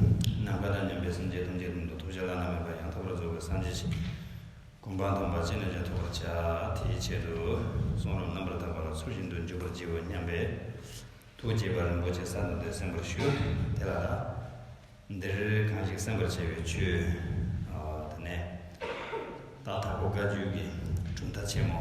ནམ་མཁའ་དང་མཉམ་པའི་སངས་རྒྱས་ཐམས་ཅད་ཀུན་དུ་ཐུགས་རྗེ་ལ་སྣང་བས་བར་ཡང་དག་པར་རྫོགས་པའི་སངས་རྒྱས་ཆེ་དགུ་འབངས་དང་བར་ཆད་རྣམས་ཀྱང་ཐོབ་པར་བྱ། དེའི་ཆེད་དུ་གསུང་རབ་རྣམ་པར་དག་པ་ལ་ཚུལ་བཞིན་དུ་འཇུག་པར་བགྱིའོ་སྙམ་པས། ཐུགས་དགྱེས་པ་རིན་པོ་ཆེ་གསར་དུ་འདི་གསན་པར་ཞུ། དེ་ལ། འདིར་གང་ཞིག་གསན་པར་བྱ་བའི་ཆོས། དེ་ནས། རྟག་དྲག་པོ་བཀའ་བརྒྱུད་ཀྱི་གྲུབ་མཐའ་ཆེན་མོ།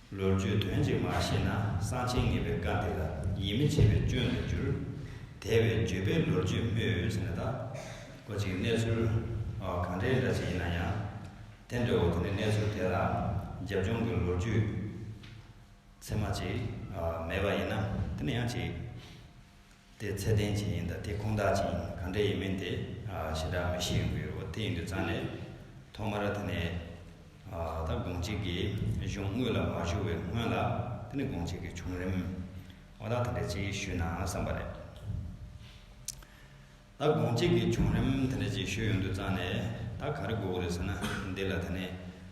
ལོ་རྒྱུས་དོན་གཅིག་མ་ཤེས་ན་གསང་ཆེན་ངེས་པའི་བཀའ་འདི་ལ་ཡིད་མི་ཆེས་པའི་སྐྱོན་དུ་འགྱུར། དེ་བས་བརྗོད་པའི་ལོ་རྒྱུས་སྨོས་འོས་ཟེར་ན་དག་གོ་ཅིག་གནས་ཚུལ་གང་འདྲའི་འདྲ་ཞིག་ཡིན་ན་ཡང། དེ་འདྲའོ་དེ་ནི་གནས་ཚུལ་དེ་ལ་རྒྱབ་ལྗོངས་ཀྱི་ལོ་རྒྱུས་ཚད་མ་ཅིག་མེད་པ་ཡིན་ན་དེ་ནི་ཡང་ཅིག། དེ་ཚད་ལྡན་གྱི་ཡིན་དང་དེ་ཁུངས་དག་གྱི་ཡིན་གང་འདྲ་ཡིན་མིན་དེ་ཞེ་དྲག་མི་ཤེས་ཡོང་གི་ཡོད་དེ་ཡིན་དུས་ཙང་ནས་ཐོག་མར་དེ་ནས་ད་དགོང་གཅིག་གི་གཞུང་དངོས་ལ་མ་ཞུགས་བའི་སྔོན་ལ་དེ་ནས་དགོང་གཅིག་གི་བྱུང་རིམ་བ་དག་དེ་འདྲ་ཅིག་ཞུས་ན་བསམ་པ་རེད། ད་དགོང་གཅིག་གི་བྱུང་རིམ་དེ་འདྲ་ཅིག་ཞུས་ཡོང་དུས་ཙང་ནས་ད་ག་རེ་དགོས་ཀྱི་རེད་ཟེར་ན་འདི་ལ་དེ་ནས་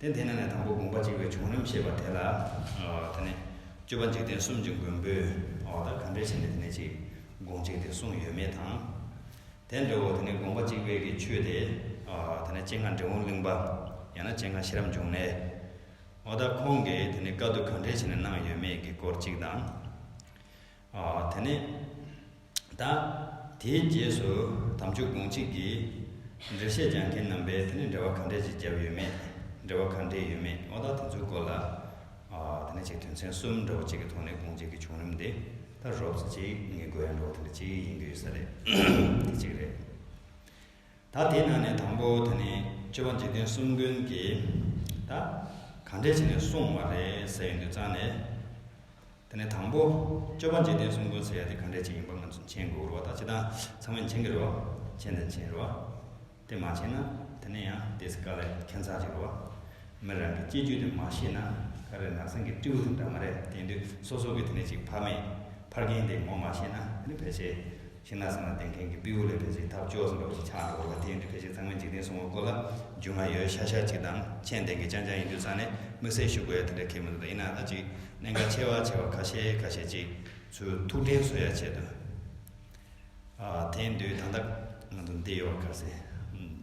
དེ་དེ་ན་ནས་དང་པོ་དགོངས་པ་གཅིག་པའི་བྱུང་རིམ་ཞེས་པ་དེ་ལ། དེ་ནས། སྤྱོད་པ་འཇིག་རྟེན་གསུམ་གྱི་མགོན་པོས། གང་འདྲའི་ཆེད་ནས་དེ་ནས་ཅིག། དགོངས་གཅིག་དེ་གསུངས་ཡོད་མེད་དང། དེ་འདྲ་བོ་དེ་ནས་དགོངས་པ་གཅིག་པའི་གི་ཆོས་དེ། དེ་ནས་སྤྱན་སྔ་འབྲས་བུ་གླིང་པ། ཡང་ན་སྤྱན་སྔ་ཤེས་རབ་འབྱུང་གནས། ཨོ་ད་ཁོང་གིས་དེ་ནས་བཀའ་བསྡུ་གང་འདྲའི་ཆེད་ནས་གནང་ཡོད་མེད་ཀྱི་སྐོར་གཅིག་དང། དེ་ནས་བདག། དེའི་རྗེས་སུ་དམ་ཆོས་དགོངས་གཅིག་གིས། འགྲེལ་བཤད་སྦྱང་མཁན་རྣམ་པས་དེ་ནས་འགྲེལ་བ་གང་འགྲེལ་ཅིག་བརྒྱབ་ཡོད་མེད། འགྲེལ་བ་གང་འགྲེལ་ཡོད་མེད་དབང་རྟགས་དེ་ཚོའི་སྐོར་ལ། དེ་ནས་ཅིག་དོན་ཚན་གསུམ་འདྲ་བོ་གཅིག་གི་ཐོག་ནས་དགོངས་གཅིག་གི་བྱུང་རིམ་དེ་ལྟར་རོབ་ཙེ་གཅིག་ངེས་དགོས་ཡང་འགྲོ་བ་དེ་འདྲ་གཅིག་ཡིན་རྒྱུ་ཡོད་ས་རེད། དེ་གཅིག་རེད། ད་དེའི་ནང་ནས་དང་པོ་དེ་ནི་སྤྱོད་པ་འཇིག་རྟེན་གསུམ་ཀུན་གྱིས། ད། གང་འགྲེལ་བྱས་ནས་གསུངས་བ་རེད་ཟེར་ཡོང་རྒྱུ་གཙང་ནས། དེ་ནས་དང་པོ། སྤྱོད་པ་འཇིག་རྟེན་གསུམ་ཀུན་ཟད་ཡ་དེ་གང་འདྲས་ཅིག་ཡིན་པ་ང་ཚོས་མཁྱེན་དགོས་རུང་བ་དང་ཅི་དང་ཚང་མས་མཁྱེན་གྱི་རུང་བ། མཁྱེན་དང་མཁྱེན་རུང་བ། དེ་མ་མཁྱེན་ན་དེ་ནས་ཡང་དེ་ཚེ་དཀའ་ལས་མཁྱེན་ཚར་གྱི་རུང་བ། མི་རང་གི་སྐྱེ་རྒྱུད་དེ་མ་ཤེས་ན་ཀ་རེ་ནགས་ཚང་གི་སྤྲེའུ་དང་འདྲ་མ་རེད་དེང་དུས་སོ་སོ་གི་དེ་ནས་ཅིག་ཕ་མེས་ཕར་རྒན་དེ་ངོ་མ་ཤེས་ན་དེ་ནི་ཕལ་ཆེར་ཁྱེད་ནགས་ཚང་ལ་བསྡད་མཁན་གྱི་དཔེ་དབུ་ལས་དྲ་ཕྱིན་ཐབས་སྐྱོ་ཟིན་པ་བཞིན་ཆགས་འགྲོ་བ་ལ་དེ་ཡིན་དུས་ཕལ་ཆེར་ཚང་མས་འཇིག་རྟེན་སྲུང་བ་སྐོར་ལ་རྒྱུས་མངའ་ཡོད་ཤག་ཤག་ཅིག་དང་མཆན་ལྡན་གྱི་ཅང་ཅང་ཡིན་དུས་ཚང་ནས་དམིགས་བསལ་ཞུ་དགོས་ཡ་དེ་འདྲ་ཁེལ་མི་འདུག་ད་ཡིན་ནའང་ད་ཅིག་གནད་འགག་ཆེ་བ་ཆེ་བ་ཁ་ཤས་ཁ་ཤས་ཅིག་ཚུར་ཐུགས་དྲན་གསོ་ཡ་བྱེད་དུས་ཨ་དེང་དུས་ད་ལྟ་ང་ཚོ་འདི་ཡོད་བ་ཁ་ཟས་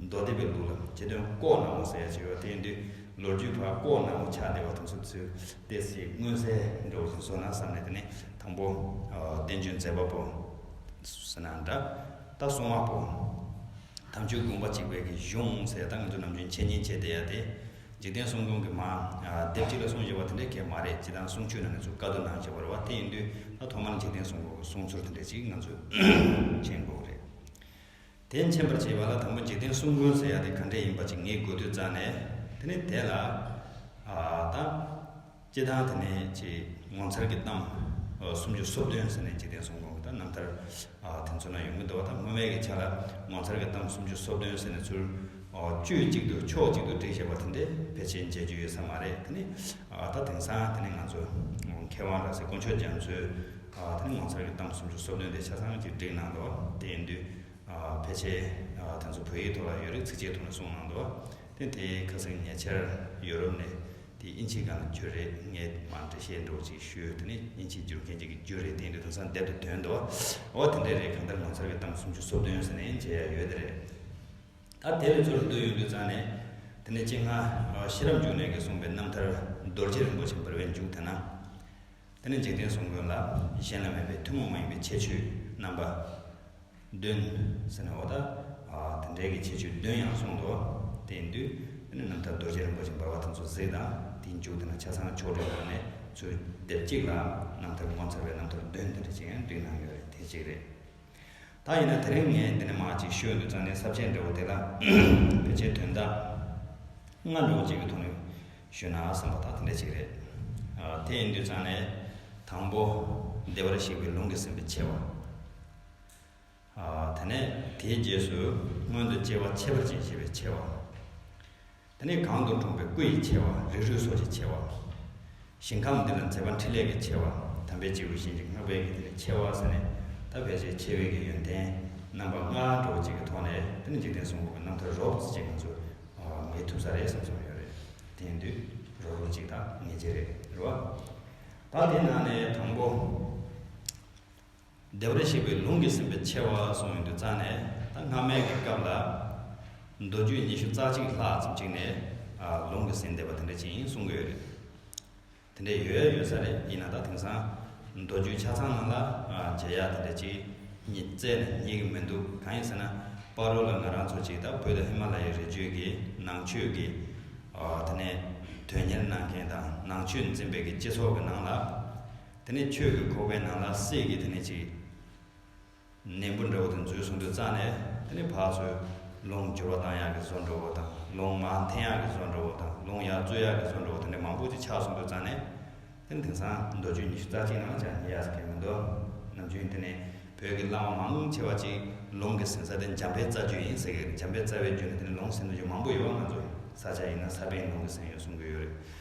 མདོ་སྡེ་པའི་ལུགས་ལ་ཆེ་དོན་ལྐོག་ནག་མོ་ཟེར་ཡ་བྱས་པ་དེང་དུས་ལོ་རྒྱུས་བར་ལྐོག་ནག་མོ་ཆགས་བསྡད་པ་དང་ཚུལ་དེ་སྲིད་མངོན་གསལ་འགྲོ་བཞིན་སོང་ན་བསམ་ནས་དེ་ནས་དང་པོ། བསྟན་བཅོས་མཛད་པ་པོ། ཟེར་ན་འདྲ། ད་གསུང་བ་པོ། དམ་ཆོས་དགོངས་པ་གཅིག་བས་ཀྱི་གཞུང་ཟེར་ད་ང་ཚོ་ནམ་རྒྱུན་འཆད་ཉན་བྱས་བསྡད་ཡ་དེ། འཇིག་རྟེན་གསུང་སྐྱོང་གི་མ། སྡེབ་གཅིག་ལ་གསུང་བྱེད་པ་དེ་འདྲའི་གལ་མ་རེད་སྤྱི་དང་གསུང་ཆོས་ནང་གི་ཚུལ་བཀའ་བསྡུ་ནང་བྱེད་པར་བ་དེ་ཡིན་དུས་ད་ཐོག་མར་འཇིག་རྟེན་གསུང་སྐྱོང་གི་གསུང་ཚུལ་དེ་འདྲའི་ཅིག་ང་ཚོས་མཁྱེན་དགོས་རེད། དེ་མཁྱེན་པར་བྱེད་པ་ལ་དང་པོ་འཇིག་རྟེན་གསུམ་ཀུན་ཟད་ཡ་དེ་གང་འདྲ་ཡིན་པ་ཅིག་ངེས་དགོས་དུས་བཙལ་ནས་དེ་ནི་དེ་ལ། ད། ཅེས་དང་དེ་ནས་ཅེས་ངོ་མཚར་གྱི་གཏམ། སུམ་ཅུ་སོ་བདུན་ཟེར་ནས་འཇིག་རྟེན་གསུམ་གོང་གི་དང་རྣམ་ཐར། དེ་ཚུར་ན་ཡོང་གི་འདུག་བ་དང་སྔོན་མེད་ཀྱི་ཆ་ལ་ངོ་མཚར་གྱི་གཏམ་སུམ་ཅུ་སོ་བདུན་ཟེར་ནས་ཚུར། དཀྱུས་གཅིག་ཏུ་ཕྱོགས་གཅིག་ཏུ་བསྒྲིགས་བཞག་པ་དེ་འདྲའི་ཕལ་ཆེར་མཇལ་རྒྱུ་ཡོད་ས་མ་རེད་དེ་ནི། ད་དེང་སང་དེ་ནི་ང་ཚོ། མཁས་དབང་ར་བཟི་དཀོན་མཆོག་རྒྱ་མཚོའི། ད་ཐེངས་ངོ་མཚར་གྱི་གཏམ་གསུམ་ཅུ་སོ་བདུན་དེ་ཆ་ཚང་གི་སྒྲིག་གནང་འདུག་དེ་ཡིན་དུས། ཕལ་ཆེར་དེ་ཚོ་བོད་ཡིག་ཐོག་ལ་ཡོད་རིགས་ཚིག་བཅད་ཐོག་ནས་གསུངས་གནང་འདུག་དེ་དེ་ཁ་གསེང་ཉེ་ཆར་ཡོ་རོབ་ནས་དེ་དབྱིན་ཇིའི་སྒང་ལ་འགྱོད་རེད་ངས་མར་འགྲེལ་བཤད་འདྲ་བོ་ཅིག་ཞུས་དེ་ནས་དབྱིན་ཇིའི་འགྱུར་མཁན་གཅིག་གིས་རྒྱུ་རེད་དེ་ཡིན་དུས་དེང་སང་བསྡད་འདུག་དོན་དུ་འོ་དེ་འདྲ་རེད་གང་ལྟར་ངོ་མཚར་གྱི་གཏམ་གསུམ་ཅུ་སོ་བདུན་ཟེར་ནས་མཇལ་ཡ་ཡོད་དེ་རེད། ད་དེ་ལས་ཚུར་བསྡུ་ཡོང་དུས་ཙང་ནས་དེ་ནས་སྤྱིར་སྔར་ཤེས་རབ་འབྱུང་གནས་ཀྱིས་གསུངས་པའི་རྣམ་ཐར་རྡོ་རྗེ་རིན་པོ་ཆེ་འབར་བའི་མཇུག་དེ་ན། དེ་ནི་འཇིག་རྟེན་བཟུང་དགོས་ལ། གཞན་ལ་མེད་པའི་ཐུན་མོང་མ་ཡིན་པའི་ཁྱད་ཆོས་རྣམ་པ། བདུན། ཟེར་ནའོ། དེ་འདྲའི་གི་ཁྱད་ཆོས་བདུན་ཡང་གསུངས་འདུག། དེའི་འདུས། དེ་ནི་རྣམ་ཐར་རྡོ་རྗེ་རིན་པོ་ཆེ་འབར་བ་དང་ཚོ་གཟིགས་དང་དེའི་མཇུག་དེ་ན་ཆ་ཚང་ཕྱོགས་སྒྲིག་གནང་ནས་ཚུར་བསྡེབས་གཅིག་ལ། རྣམ་ཐར་ངོ་མཚར་བའི་རྣམ་ཐར་བདུན་དེ་འདྲ་གཅིག་ཡང་བསྡུས་གནང་ཡོད་རེད་དེ་གཅིག་རེད། ད་ཡིན་ན་དེ་རིང་ངས་འདི་ནས་མང་ཅིག་ཤོད་འདུག་ཙང་ནས་ཟབ་ཆའི་འབྲས་བུ་དེ་ལ་ཕལ་ཆེར་དོན་དག་ལྔ་འགྲོ་བ་ཅིག་གི་ཐོག་ནས་ཤོད་ན་བསམ་པ་དག་དེ་འདྲ་ཅིག་རེད། དེ་ཡིན་དུས་ཙང་ནས་དང་པོ་བདེ་བར་གཤེགས་པའི་ལུང་གི་ཟིན་པའི་ཆེ་བ། དེ་ནས་དེའི་རྗེས་སུ་སྔོན་དུ་སྐྱེ་བ་ཆད་པར་བྱེད་ཅེས་པའི་ཆེ་བ། དེ་ནས་གང་དུ་འགྲོགས་པའི་སྐུ་ཡི་ཆེ་བ་རིགས་རུས་སོགས་ཀྱི་ཆེ་བ། ཞིང་ཁམས་འདི་ལ་མཛེས་པ་འཕྲིན་ལས་ཀྱི་ཆེ་བ་དམ་པའི་སྐྱེས་བུ་གཞན་གྱིས་བསྔགས་པའི་གྱི་དེ་ལས་ཆེ་བ་ཟེར་ནས་ད་ཕལ་ཆེར་ཆེ་བའི་གྱི་ཡོན་ཏན་རྣམ་པ་ལྔ་འགྲོ་བ་གཅིག་གི་ཐོག་ནས་དེ་ནི་འཇིག་རྟེན་གསུམ་པོ་གི་རྣམ་ཐར་རོགས་བྱེད་ཅིག་ང་ཚོས་ངེས་ཐུབ་ས་རེད་བསམ་བསམ་ཡོད་རེད་དེ་ཡིན་དུས་རོགས་རོགས་གཅིག་དང་ངེས་ཅན་རེད་རེད་བ། ད་དེའི་ནང་ནས་དང་པོ། བདེ་བར་གཤེགས་པའི་ལུང་གིས་ཟིན་པའི་ཆེ་བ་གསུངས་ཡོང་དུས་རྩ་ནས་ད་སྔ་མའི་གི་སྐབས་ལ། མདོ་རྒྱུད་ཉི་ཤུ་རྩ་གཅིག་ལྷག་ཙམ་གཅིག་ནས་ལུང་གིས་ཟིན་བདེ་བ་དེ་འདྲ་ཅིག་ཡིན་གསུང་གི་ཡོད་རེད། དེ་འདྲ་ཡོད་ཡ་ཡོད་ས་རེད་ཡིན་ན་ད་དེང་སང་མདོ་རྒྱུད་ཆ་ཚང་ནང་ལ་མཇལ་ཡག་དེ་འདྲ་ཅིག་ཉིད་བཙལ་ནས་རྙེད་གི་མི་འདུག་གང་ཡིན་ཟེར་ན་པར་རོ་ལ་ང་རང་ཚོ་ཅིག་ད་བོད་དུ་ཧི་མ་ལ་ཡའི་རི་རྒྱུད་ཀྱི་ནང་ཆོས་ཀྱི་དེ་ནས་དོན་གཉེར་གནང་མཁན་དང་ནང་ཆོས་འཛིན་པའི་གི་སྤྱི་ཚོགས་ཀྱི་ནང་ལ། དེ་ནས་ཁྱོད་ཀྱི་ཁོག་པའི་ནང་ལ་གསེར་གྱི་དེ་ནས་ཅིག། ནེམ་བུ་འདྲ་བོ་དེ་མཛོད་ཟུང་དུ་བཙགས་ནས་དེ་ནས་བག་ཚོས། རླུང་སྦྱོར་བ་དྭངས་ཡག་གི་བཟོ་འདྲ་བོ་དང་རླུང་མ་འཐེན་ཡག་གི་བཟོ་འདྲ་བོ་དང་རླུང་ཡར་བཙོས་ཡག་གི་བཟོ་འདྲ་བོ་དེ་འདྲ་མང་པོ་ཅིག་ཕྱག་ཟུང་དུ་བཙགས་ནས། དེ་ནས་དེང་སང། མདོ་རྒྱུད་ཉི་ཤུ་རྩ་གཅིག་ནང་ལྕགས་ཀྱི་ཡ་ས་ཁེལ་མི་འདུག་ནམ་རྒྱུན་དེ་ནས་བོད་ཀྱི་བླ་མ་མང་ཆེ་བ་ཅིག་ལུང་གི་ཟིན་ས་དེ་འཇམ་པའི་རྩ་རྒྱུད་ཡིན་ཟེར་གི་འཇམ་པའི་རྩ་བའི་རྒྱུད་ནས་དེ་ནས་ལུང་ཟིན་ཏོ་རྒྱུ་མང་པོ་ཡོད་པ་ང་ཚོ་ས་ཆ་ཡིན་ན་ས་པཎ་ལུང་གི་ཟིན་ཡོད་གསུང་གི་ཡོད་རེད་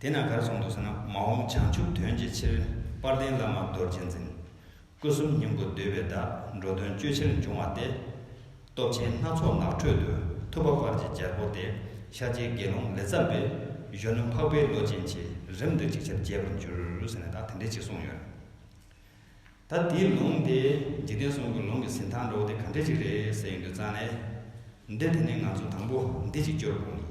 དེ་ན་གར་སོང་འདུག་ཟེར་ན་མ་འོངས་བྱང་ཆུབ་དོན་གྱི་ཕྱིར་དཔལ་ལྡན་བླ་མ་རྡོ་རྗེ་འཛིན། སྐུ་གསུམ་སྙིང་པོ་བསྡུས་པའི་བརྡ་འགྲོ་དོན་སྤྱོད་ཕྱིར་འབྱུང་བ་སྟེ། སྟོབས་ཆེན་སྣ་ཚོགས་ནགས་ཁྲོད་དུ་ཐུབ་པ་དཔལ་གྱི་རྒྱལ་པོ་སྟེ་ཤཱཀྱའི་དགེ་སློང་ལས་ཚར་བས་གཞོན་ནུ་འཕགས་པའི་བློ་ཅན་གྱིས་རིམ་དུ་ཅིག་ཆར་རྒྱས་པར་འགྱུར་ཟེར་ནས་ད་དེ་འདྲས་ཅིག་གསུངས་ཡོད། ད་དེའི་ལུང་དེ་འཇིག་རྟེན་གསུམ་གྱི་ལུང་གི་ཟིན་ཐང་འགྲོ་བ་དེ་ག་འདྲས་ཅིག་རེད་ཟེར་ཡོད་འདུག་ཙང་ནས། འདི་དེ་ནས་ང་ཚོ་དང་པོ་འདི་ཅིག་སྐྱོར་དགོངས་ཡིན།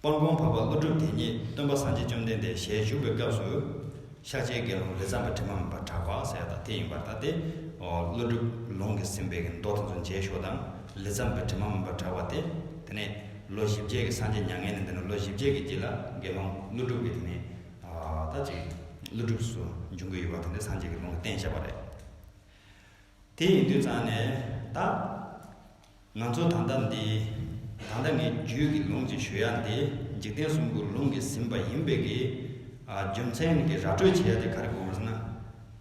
སྤང་གོང་བབས་པ་ཀླུ་སྒྲུབ་དེ་ཉིད་སྟོན་པ་སངས་རྒྱས་བཅོམ་ལྡན་འདས་ཞལ་བཞུགས་པའི་སྐབས་སུ། ཤཱཀྱའི་དགེ་སློང་ལས་ཚངས་པའི་དྲི་མ་མེད་པར་གྲགས་པ་གསལ་དང་དེ་ཡིན་པར་བལྟ་སྟེ། ཀླུ་སྒྲུབ་ལུང་གིས་ཟིན་པའི་མདོ་དེ་ཚོ་མཇལ་ཞོག་དང་ལས་ཚངས་པའི་དྲི་མ་མེད་པར་གྲགས་པ་སྟེ། དེ་ནས་ལོ་བཞི་བརྒྱད་ཀྱི་སངས་རྒྱས་མྱ་ངན་ལས་འདས་ནས་ལོ་བཞི་བརྒྱད་ཀྱི་དུས་ལ་དགེ་སློང་ཀླུ་སྒྲུབ་ཀྱིས་དེ་ནས། ད་ཅིག། ཀླུ་སྒྲུབ་སུ་འབྱུང་གི་ཡོད་པ་དེ་འདྲའི་སངས་རྒྱས་ཀྱི་ལུང་གི་བསྟན་བྱ་བ་རེད། དེ་ཡི་འདུས་གཙང་ནས་བདག། ང་ཚོ་དང་འདམ་འདི། དང་འདྲ་ངས་རྒྱུད་ཀྱི་ལུང་གཅིག་ཞུ་ཡ་འདི་འཇིག་རྟེན་གསུམ་ཀུན་ལུང་གིས་ཟིན་པ་ཡིན་པས་ཀྱི། རྒྱུ་མཚན་གྱི་ར་སྤྲོད་བྱེད་ཡ་དེ་ག་རེ་དགོས་ཟེར་ན།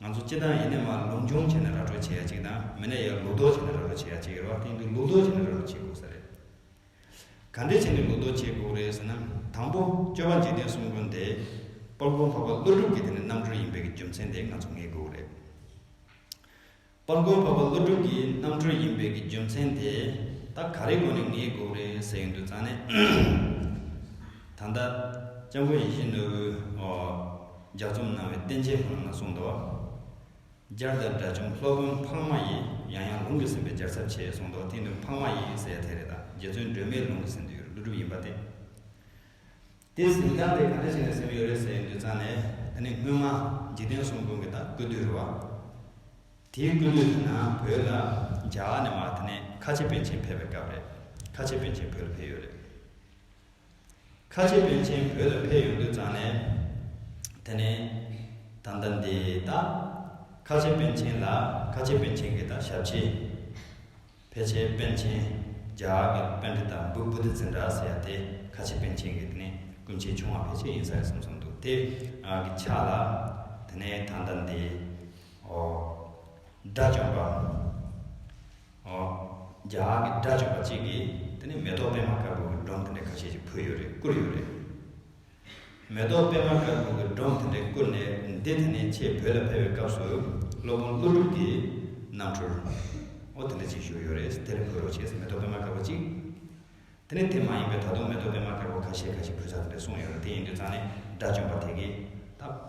ང་ཚོ་སྤྱི་བཏང་ཡེ་ནས་མ་ལུང་སྦྱོང་བྱེད་ནས་ར་སྤྲོད་བྱེད་ཡ་གཅིག་དང་མི་ནས་ཡ་ལུགས་ལྡོག་བྱེད་ནས་ར་སྤྲོད་བྱེད་ཡ་གཅིག་རེད་བ་དེ་འདུག་ལུགས་ལྡོག་བྱེད་ནས་ར་སྤྲོད་བྱེད་དགོས་ས་རེད། ག་འདྲས་བྱས་ནས་ལུགས་ལྡོག་བྱེད་དགོས་རེད་ཟེར་ན། དང་པོ་སྤྱོད་པ་འཇིག་རྟེན་གསུམ་ཀུན་དེ། དཔལ་སྤུངས་འཕགས་པ་ཀླུ་སྒྲུབ་ཀྱི་དེ་ནི་རྣམ་གྲོལ་ཡིན་པས་ཀྱི་རྒྱུ་མཚན་དེ་ང་ཚོ་ངེས་དགོས་རེད། པར་མགོན་འཕགས་པ་ཀླུ་སྒྲུབ་ཀྱི་རྣམ་གྲོལ་ཡིན་པའི་གི་རྒྱུ་མཚན་དེ་ད་ག་རེའི་སྒོ་ནས་ངའི་དགོངས་རེད་ཟེར་གྱི་འདུག་ཙང་ནས། ད་ལྟ། སྐྱབས་མགོན་ཡེ་ཤེས་ནོར་བུའི། ལྗགས་རྩོམ་གནང་བའི་བསྟན་བྱའི་ལྷ་མོ་ན་གསུང་མདོ། སྦྱར་དང་དགྲ་བཅོམ་སློབ་དཔོན་འཕགས་མ་ཡིས་ཡང་ཡང་ལུང་གིས་ཟིན་པའི་སྦྱར་ཚབ་ཆེ་གསུང་མདོ་དེ་འདུག་འཕགས་མ་ཡིས་ཟེར་ཡ་དེ་རེད་ད་རྗེ་བཙུན་སྒྲོལ་མས་ལུང་གིས་ཟིན་དུས་ཀླུ་སྒྲུབ་ཡིན་པ་དེ། དེས་འཛིན་སྟངས་དེ་གང་འདྲ་ཞིག་ནས་སེམས་ཡོད་རེད་ཟེར་དུས་ཚང་ནས་ད་ནི་སྔོན་མ་འཇིག་རྟེན་གསུམ་ཀུན་གྱི་ད་སྐུ་དུས་རེད་བ། དེའི་སྐུ་དུས་དེ་ནང་བོད་ལ་རྒྱ་གར་ནས་མར་དེ་ནས་ཁ་ཆེ་པན་ཆེན་ཕེབས་པའི་སྐབས་རེད། ཁ་ཆེ་པན་ཆེན་བོད་ལ་ཕེབས་ཡོད་རེད། ཁ་ཆེ་པན་ཆེན་བོད་ལ་ཕེབས་ཡོང་དུས་ཚང་ནས་དེ་ནས་ད་ལྟ་འདི་ད་ཁ་ཆེ་པན་ཆེན་ལ་ཁ་ཆེ་པན་ཆེན་གྱི་ད་ཞབས་ཕྱི། ཕལ་ཆེར་པཎ་ཆེན། རྒྱ་གར་གྱི་པན་དྷི་དང་བུ་བུ་དྷི་ཙི་འདྲ་ཟེར་ཡ་དེ་ཁ་ཆེ་པན་ཆེན་གྱི་དེ་ནས་སྐུ་མཆེད་ཆུང་བ་ཕལ་ཆེར་ཡིན་ས་རེད་བསམ་སོང་འདུག་དེ་གི་ཆ་ལ་དེ་ནས་ད་ལྟ་འདི། ཨོ། དགྲ་བཅོམ་པ། ཨོ། རྒྱ་གར་གྱི་དགྲ་བཅོམ་པ་གཅིག་གིས་དེ་ནས་མེ་ཏོག་པད་མ་དཀར་པོ་གི་སྒྲོམ་དེ་འདྲ་ཁ་ཤས་ཅིག་ཕུལ་ཡོད་རེད་བསྐུར་ཡོད་རེད། མེ་ཏོག་པད་མ་དཀར་པོ་གི་སྒྲོམ་དེ་འདྲས་བསྐུར་ནས་འདི་དེ་ནས་ཆེས་བོད་ལ་ཕེབས་པའི་སྐབས་སུ་སློབ་དཔོན་ཀླུ་སྒྲུབ་ཀྱིས་གནམ་འཕྲུར། ཨོ་དེ་འདྲ་ཅིག་བཞུགས་ཡོད་རེད་དེར་འབུལ་རོགས་བྱས་ཟེར་མེ་ཏོག་པད་མ་དཀར་པོ་གཅིག། དེ་ནི་དེ་མ་ཡིན་པའི་ད་དུང་མེ་ཏོག་པད་མ་དཀར་པོ་ཁ་ཤས་ཁ་ཤས་འབུལ་ཚར་དེ་འདྲས་གསུངས་ཡོད་རེད་དེ་ཡིན་དུས་ཙང་ནས་དགྲ་བཅོམ་པ་དེ་གིས་ད།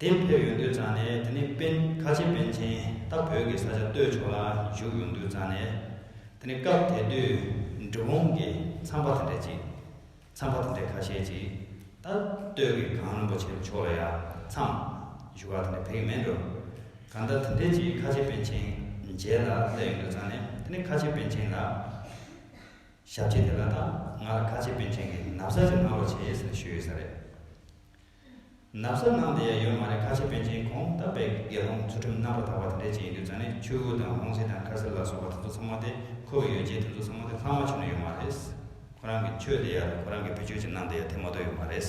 དེ་ཕེབས་ཡོང་དུས་ཙང་ནས་དེ་ནི་དཔོན་ཁ་ཆེ་དཔོན་ཆེན་ད་བོད་ཀྱི་ས་ཆ་སྟོད་ཕྱོགས་ལ་བཞུགས་ཡོང་དུས་ཙང་ནས་དེ་ནི་སྐབས་དེ་དུས་འབྲི་གུང་གི་ཚངས་པ་དེ་འདྲས་ཅིག་ཚངས་པ་དེ་འདྲས་ཁ་ཤས་ཅིག་ད་སྟོད་ཀྱི་གངས་རིན་པོ་ཆེ་མཆོག་ལ་ཡ་མཚམས་བཞུགས་ཁག་དེ་འདྲས་ཕེབས་ཀྱི་མེད་འགྲོ་གང་ལྟར་དེ་འདྲས་ཅིག་ཁ་ཆེ་དཔོན་ཆེན་མཇལ་ལ་སླེབས་ཡོང་དུས་ཙང་ནས་དེ་ནི་ཁ་ཆེ་དཔོན་ཆེན་ལ་ཞབས་རྗེས་དེ་ལ་ད་ང་ལ་ཁ་ཆེ་དཔོན་ཆེན་གྱི་ནབ་ས་ཅིག་གནང་རོགས་བྱེད་ཟེར་ནས་ཞུས་ཡོད་ས་རེད། ནགས་ཚལ་ནང་དེ་ཡ་ཡོད་མ་རེད་ཁ་ཆེ་པན་ཆེན་གོང་ལྟ་བས་དགེ་སློང་ཚུལ་ཁྲིམས་རྣམ་པར་དག་པ་དེ་འདྲས་ཅིག་ཡིན་དུས་རྫ་ནས་ཆུ་བོ་དང་ཧོང་ཟི་དང་ཁར་སི་ལ་སོགས་པ་དེ་ཚོ་ཚང་མ་དེ་ཁོ་བོས་ཡོད་རྗེས་དེ་ཚོ་ཚང་མ་དེ་ལྷག་མ་བྱུང་ནས་ཡོད་མ་རེད། ཁོ་རང་གི་ཆོས་དེ་ཡ་རེད་ཁོ་རང་གི་བུ་ཆོས་ཅིག་གནང་དེ་ཡ་དེ་མ་གཏོགས་ཡོད་མ་རེད།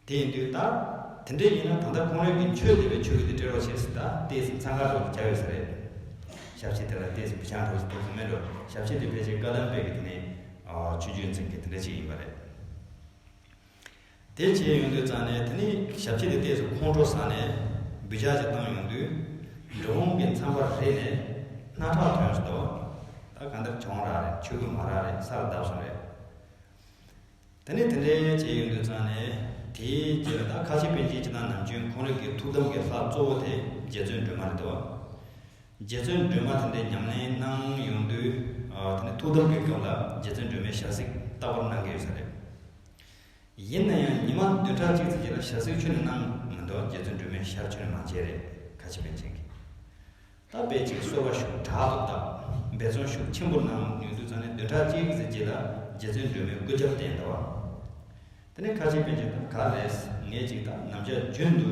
དེ་ཡིན་དུས་ད། དེ་འདྲས་ཡིན་ན་ད་ལྟ་ཁོང་རང་གི་ཆོས་དེ་བས་ཆོས་གི་དེ་སྤྲད་རོགས་བྱས་ཟིན་ད་ལྟས་ཟིན་ཚང་ཁ་རོགས་ཀྱི་བྱ་ཡོད་ས་རེད། ཞབས་ཕྱི་དེ་ལ་ལྟས་ཟིན་བུ་ཆང་གྲོགས་ཀྱི་དེ་ཚོ་མིན་འགྲོ་ཞབས་ཕྱི་དེ་ཕལ་ཆེར་བཀའ་གདམས་པའི་གི་དེ་ནས། ཆོས་རྒྱུད་འཛིན་མཁན་དེ་འདྲས་ཅིག་ཡིན་པ་རེད། དེ་བྱས་ཡོང་དུས་ཙང་ནས་དེ་ནི་ཞབས་ཕྱི་དེ་ལྟས་སུ་ཁོང་ཁྲོ་ཟ་ནས་འབུད་ཆགས་ཅིག་བཏང་ཡོང་དུས། འགྲོ་འོང་གི་མཚམས་པར་རེད་ནས་སྣ་ཁྲག་ཐོན་སོང་དོ། ད་ག་འདིར་གྱོང་རག་རེད་ཆུ་བུ་མ་རག་རེད་ས་ལ་བརྡབས་སོང་རེད། དེ་ནི་དེ་འདྲའི་བྱས་ཡོང་དུས་ཙང་ནས་དེའི་རྗེས་ལ་ད་ཁ་ཆེ་པན་ཆེན་གྱི་ནང་ནམ་རྒྱུན་ཁོང་རིགས་ཀྱི་ཐུགས་དམ་གྱི་ལྷ་གཙོ་བོ་དེ་རྗེ་བཙུན་སྒྲོལ་མ་རེད་དོ། རྗེ་བཙུན་སྒྲོལ་མ་དེ་འདྲའི་ཉམས་ལེན་གནང་ཡོང་དུས་དེ་ཐུགས་དམ་བསྐྱོད་སྐབས་ལ་རྗེ་བཙུན་སྒྲོལ་མའི་ཞལ་གཟིགས་ལྟ་བུར་གནང་གི་ཡོད་ས་རེད། ཡིན་ན་ཡང་ཉི་མ་བདུན་ཕྲག་གཅིག་ཚེས་གཅིག་ལ་ཞལ་གཟིགས་ཆུ་ནས་གནང་མི་འདུག་རྗེ་བཙུན་སྒྲོལ་མས་ཞར་ཆུ་ནས་མ་བྱས་རེད་ཁ་ཆེ་ཕན་ཆེན་གྱི། ད་དཔེ་ཅིག་གསོལ་བ་ཞུ་དྲག་ཏུ་བཏབ་འབད་བརྩོན་ཤུགས་ཆེན་པོ་གནང་ཡོང་དུས་ཚང་ནས་བདུན་ཕྲག་གཅིག་ཚེས་གཅིག་ལ་རྗེ་བཙུན་སྒྲོལ་མའི་སྐུ་ཕྱྭ་གདན་ཟླ་བ། དེ་ནི་ཁ་ཅིག་པེ་ཅིན་དང་ག་ལེས་ངེད་ཅིག་དང་ནམ་ཕྱག་རྒྱུན་དུ་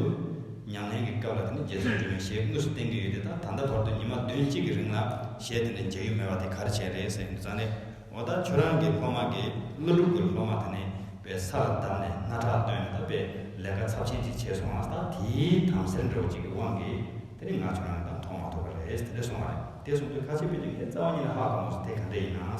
ཉམས་ལེན་གྱི་སྐབས་ལ་དེ་ནི་རྗེ་བཙུན་སྒྲོལ་མའི་ཞལ་དངོས་སུ་བསྟན་གྱི་ཡོད་དེ་ད་ད་ལྟ་བར་དུ་ཉི་མ་བདུན་གཅིག་གི་རིང་ལ་ཞལ་དེ་འདྲ་མཇལ་རྒྱུ་མེད་པ་དེ་གར་བྱས་རེད་ཟེར་གྱི་འདུག་ཙང་ནི་འོ་ད་ཁྱོད་རང་གི་སློབ་མ་གི་ཀླུ་སྒྲུབ་ཀྱི་སློབ་མ་དེ་ནི་པའི་ས་ལ་བདམས་ནས་སྣ་ཁྲག་བཏོན་ནས་ད་པས་ལས་ཀ་ཚབས་ཆེན་ཅིག་བྱས་སོང་ང་ད་དེའི་དམ་སེལ་འགྲོ་ཅིག་གི་དབང་གིས་དེ་ནི་ང་ཁྱོད་རང་དང་མཐོང་མ་ཐུབ་པ་རེད་དེ་འདྲ་སོང་བ་རེད་དེ་གསུངས་དུས་ཁ་ཅིག་པེ་ཅིན་ངའི་རྩ་བ་ཉིད་ལ་ཧ་གོ་མོ་སོང་དེ་ག་འདྲས་ཡིན་ནའང་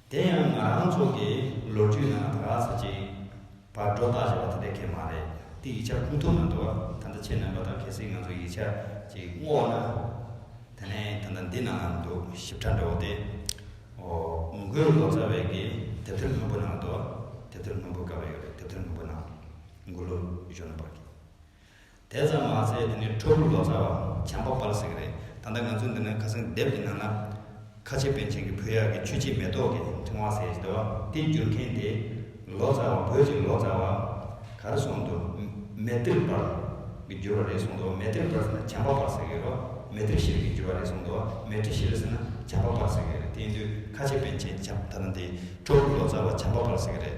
དེ་ཡང་ང་རང་ཚོ་གི་ལོ་རྒྱུས་ནང་ད་ག་ཟེར་གྱིས་བར་སྒྲོ་བཏགས་བྱས་པ་དེ་འདྲ་ཁས་མ་རེད་དེ་ཡིག་ཆ་ཁུངས་ཐུབ་ནང་འདུག་ད་ལྟ་ཁྱེད་རྣམ་པ་དང་གལ་སྲིད་ང་ཚོ་ཡིག་ཆ་གཅིག་བསྔོགས་ན་དེ་ནས་ད་ལྟ་འདི་ནང་ལ་འདུག་ཞིབ་ཕྲ་འདྲ་བོ་དེ་ཨོ་མི་དགོས་ལོ་ཙཱ་བས་ཀྱི་དེབ་ཐེར་སྔོན་པོ་ནང་འདུག་དེབ་ཐེར་སྔོན་པོ་ག་བ་ཡོད་རེད་དེབ་ཐེར་སྔོན་པོ་ནང་མགོ་ལོག་གཞོན་ནུ་བར་གྱི་དེ་ཙམ་མ་ཟད་དེ་ནི་ཁྲོ་ཕུ་ལོ་ཙཱ་བའམ་བྱམས་པ་པར་ཟེར་གི་རེད་ད་ལྟ་ང་ཚོ་འདི་ན་ཁ་སང་དེབ་ཀྱི་ནང་ན། ཁ་ཆེ་པན་ཆེན་གྱི་བུ་གཡག་གི་ཆུ་ཕྱེད་མེ་ཏོག་གི་ཕྲེང་བ་ཟེར་བ་དེ་བསྒྱུར་མཁན་དེ། ལོ་ཙཱ་བ་བོད་ཀྱི་ལོ་ཙཱ་བ། ག་རེ་སོང་འདུག་མེ་ཏིར་པར། གི་བསྒྱུར་བ་རེད་སོང་འདུག་མེ་ཏིར་པར་ཟེར་ན་བྱམས་པ་པར་ཟེར་གི་རོ། མེ་ཏིར་ཤེལ་གྱི་བསྒྱུར་བ་རེད་སོང་འདུག་མེ་ཏིར་ཤེལ་ཟེར་ན་བྱམས་པ་པར་ཟེར་གི་རེད་དེ་ཡིན་དུས་ཁ་ཆེ་པན་ཆེན་བྱམས་ད་ལྟ་འདི་ཁྲོ་ཕུ་ལོ་ཙཱ་བ་བྱམས་པ་པར་ཟེར་གི་རེད།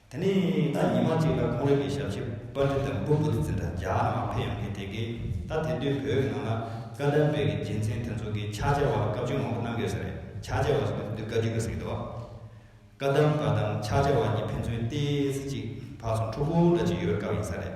དེ་ནས་ད་ཉི་མ་གཅིག་ལ་ཁོང་རང་གི་ཞབས་ཕྱི་པ་དྲི་དང་སྦུབ་བུ་དེ་ཚེ་དང་འཇག་ངང་འཕེལ་ཡོང་གི་དེ་གས་ད་དེ་དུས་བོད་ནང་ལ་བཀའ་དར་སྦེད་ཀྱི་རྒྱལ་མཚན་དེ་ཚོ་གི་ཕྱག་བྱ་བ་སྐབས་བཅུ་མང་པོ་གནང་དགོས་ས་རེད་ཕྱག་བྱ་བ་སོགས་དེ་དུས་བཀའ་བརྒྱུད་པ་ཟིག་འདུག་བཀའ་གདམས་པ་དང་ཕྱག་བྱ་བ་གཉིས་ཕན་ཚུན་ལྟས་ཚེ་གཅིག་ཕག་སོང་ཕྲུག་གུ་འདྲ་གཅིག་ཡོད་པའི་སྐབས་ཡིན་ས་རེད།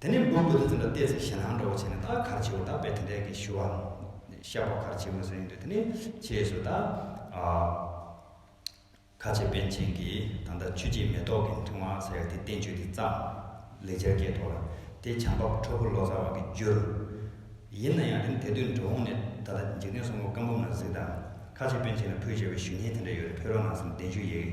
དེ་ནས་སྦོམ་པོ་དེ་ཚོ་ལ་བལྟས་ཚེ་ཞེ་སྡང་འདྲ་བོ་བྱས་ནས་ད་གར་བྱེད་བོ་ད་བས་དེ་འདྲའི་གི་ཞུ་བ་ཤ་བོ་གར་བྱེད་མི་བཟོ་ཡིན་དུས་དེ་ནས་བྱས་སུ་ད་ཁ་ཆེ་པན་ཆེན་གི་ད་ལྟ་ཆུ་སྐྱེས་མེ་ཏོག་གི་འཐུང་བ་ཟེར་ཡ་དེ་བསྟན་བཅོས་དེ་བརྩམས། ལེགས་སྦྱར་སྐད་ཐོག་ལ་དེ་བྱང་འབབ་ཁྲོ་ཕུ་ལོ་ཙཱ་བ་གི་བསྒྱུར། ཡིན་ན་ཡང་དེ་ནི་དེ་དུས་འགྲོ་འོང་ནས་ད་ལྟ་འཇིག་རྟེན་སྲོང་མགོ་སྐམ་འབུམ་ན་གཟིགས་དང་ཁ་ཆེ་པན་ཆེན་ལ་ཕུལ་བྱས་པའི་ཞུ་སྙན་དེ་འདྲ་ཡོད་རེད་ཕེ་རོ་ནང་སེམས་བདེ་འཇུག་ཡིག།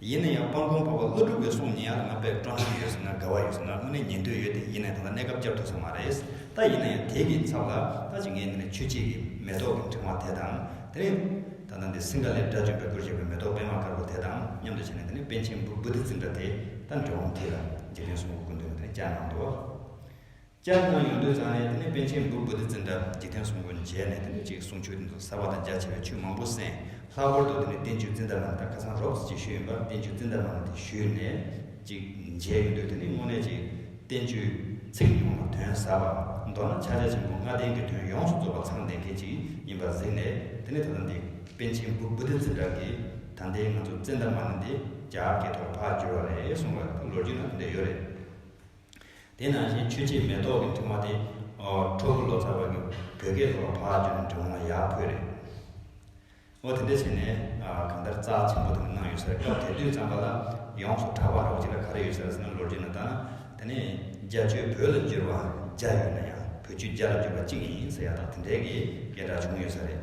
ཡིན་ན་ཡང་སྤང་གོང་འཕོ་བ་ཀླུ་སྒྲུབ་པའི་གསུང་ཉན་ཡག་ང་དཔེར་སྤྲོ་སྣང་ཡོད་ཟེར་ན་དགའ་བ་ཡོད་ཟེར་ན་དངོས་གནས་ཉན་འདོད་ཡོད་དེ་ཡིན་ན་ད་ལྟ་གནས་སྐབས་སྐྱབས་ཐོབ་ས་མ་རེད་ད་ཡིན་ན་ཡང་དེ་གི་ཚབ་ལ་ད་ཅི་ངས་འདི་ནས་ཆོས་སྐྱིད་ཀྱི་མེ་ཏོག་གི་འཕྲེང་བ་དེ་དང་དེ་ནས་ད་ལྟ་འདི་སིངྒ་ལའི་དགྲ་བཅོམ་པའི་སྐུར་བཞེངས་པའི་མེ་ཏོག་པད་མ་དཀར་པོ་དེ་དང་མཉམ་དུ་བྱས་ནས་འདི་ནས་པཎ་ཆེན་བུ་བུ་ཏི་ཙི་འདྲ་དེ་ད་འབྲི་འོང་དེ་ལ་འཇིག་རྟེན་གསུམ་པོ་ཀུན་འདུས་ནི་འདི་ནས་བསྐྱར་ནང་དུ། སྐྱབས་མགོན་ཡོངས་འདུས་ཚང་ནས་དེ་ནས་པཎ་ཆེན་འབུལ་བོད་དུ་འཛིན་གྲྭ་འཇིག་རྟེན་གསུམ་ཀུན་མཇལ་ནས་དེ་ནས་གཅིག་གསུང་ཆོས་འདི་ཚོ་གསར་བ་དང་རྒྱ་ཆེ་བའི་ཆོས་མང་པོ་གསན། ལྷག་པར་དུ་དེ་ནས་བསྟན་བཅོས་འཛིན་གྲྭ་ནང་ད་ཁ་སང་རོབ་ཙེ་ཅིག་ཞུས་ཡོད་པ་བསྟན་བཅོས་འཛིན་གྲྭ་ནང་དེ་ཞུས་ནས་ཅིག་མཇལ་ཡོང་དུས་དེ་ནས་དངོས་གནས་ཅིག་བསྟན་བཅོས་ཚིག་ཉུང་ལ་དོན་ཟབ་པ་མདོར་ན་ཕྱག་རྒྱ་ཆེན་པོ་ལྔ་ལྡན་གྱི་དོན་ཡོངས་སུ་རྫོགས་པ་ཚང་ལྡན་མཁན་ཅིག་ཡིན་པར་གཟིགས་ནས་དེ་ནས་ད་ལྟ་འདི་པཎ་ཆེན་འབུལ་བོད་དུ་འཛིན་གྲྭ་གི་ད་ལྟའི་ང་ཚོ་བཙན་ད་མ་ནི་འདི་རྒྱ་སྐད་ཐོག་ཕར་བསྒྱུར་བ་རེད་གསུངས་པ་ལོ་རྒྱུས་ནང་དེ་འདྲ་ཡོད་རེད། དེ་ནང་བཞིན་ཆོས་རྗེ་མེ་ཏོག་གི་ཐུགས་མ་དེ། ཁྲོ་བོ་ལོ་ཙཱ་བ་གི་བོད་སྐད་ལོགས་ལ་བག་ཀྱང་འབྲི་འོང་ན་ཡག་ཕོད་རེད། འོ་དེ་འདྲ་བྱས་ནས་གང་ལྟར་རྩ་ཆེན་པོ་དེ་འདི་གནང་ཡོད་ས་རེད་སྐབས་དེ་དུས་བརྩམས་པ་ལ་ཡོངས་སུ་གྲགས་པ་རོགས་གཅིག་ལ་ག་རེ་ཡོད་ས་རེད་ཟེར་ན་ལོ་རྒྱུས་ནང་དང་དེ་ནས་རྒྱ་ཆོས་བོད་ལ་བསྒྱུར་བ་བརྒྱ་ཡོད་ན་ཡང་བོད་ཆོས་རྒྱ་ལ་བསྒྱུར་བ་གཅིག་ཡིན་ཟེར་ཡག་དང་དེ་འདྲའི་གི་སྐད་འདྲ་བྱུང་ཡོད་ས་རེད།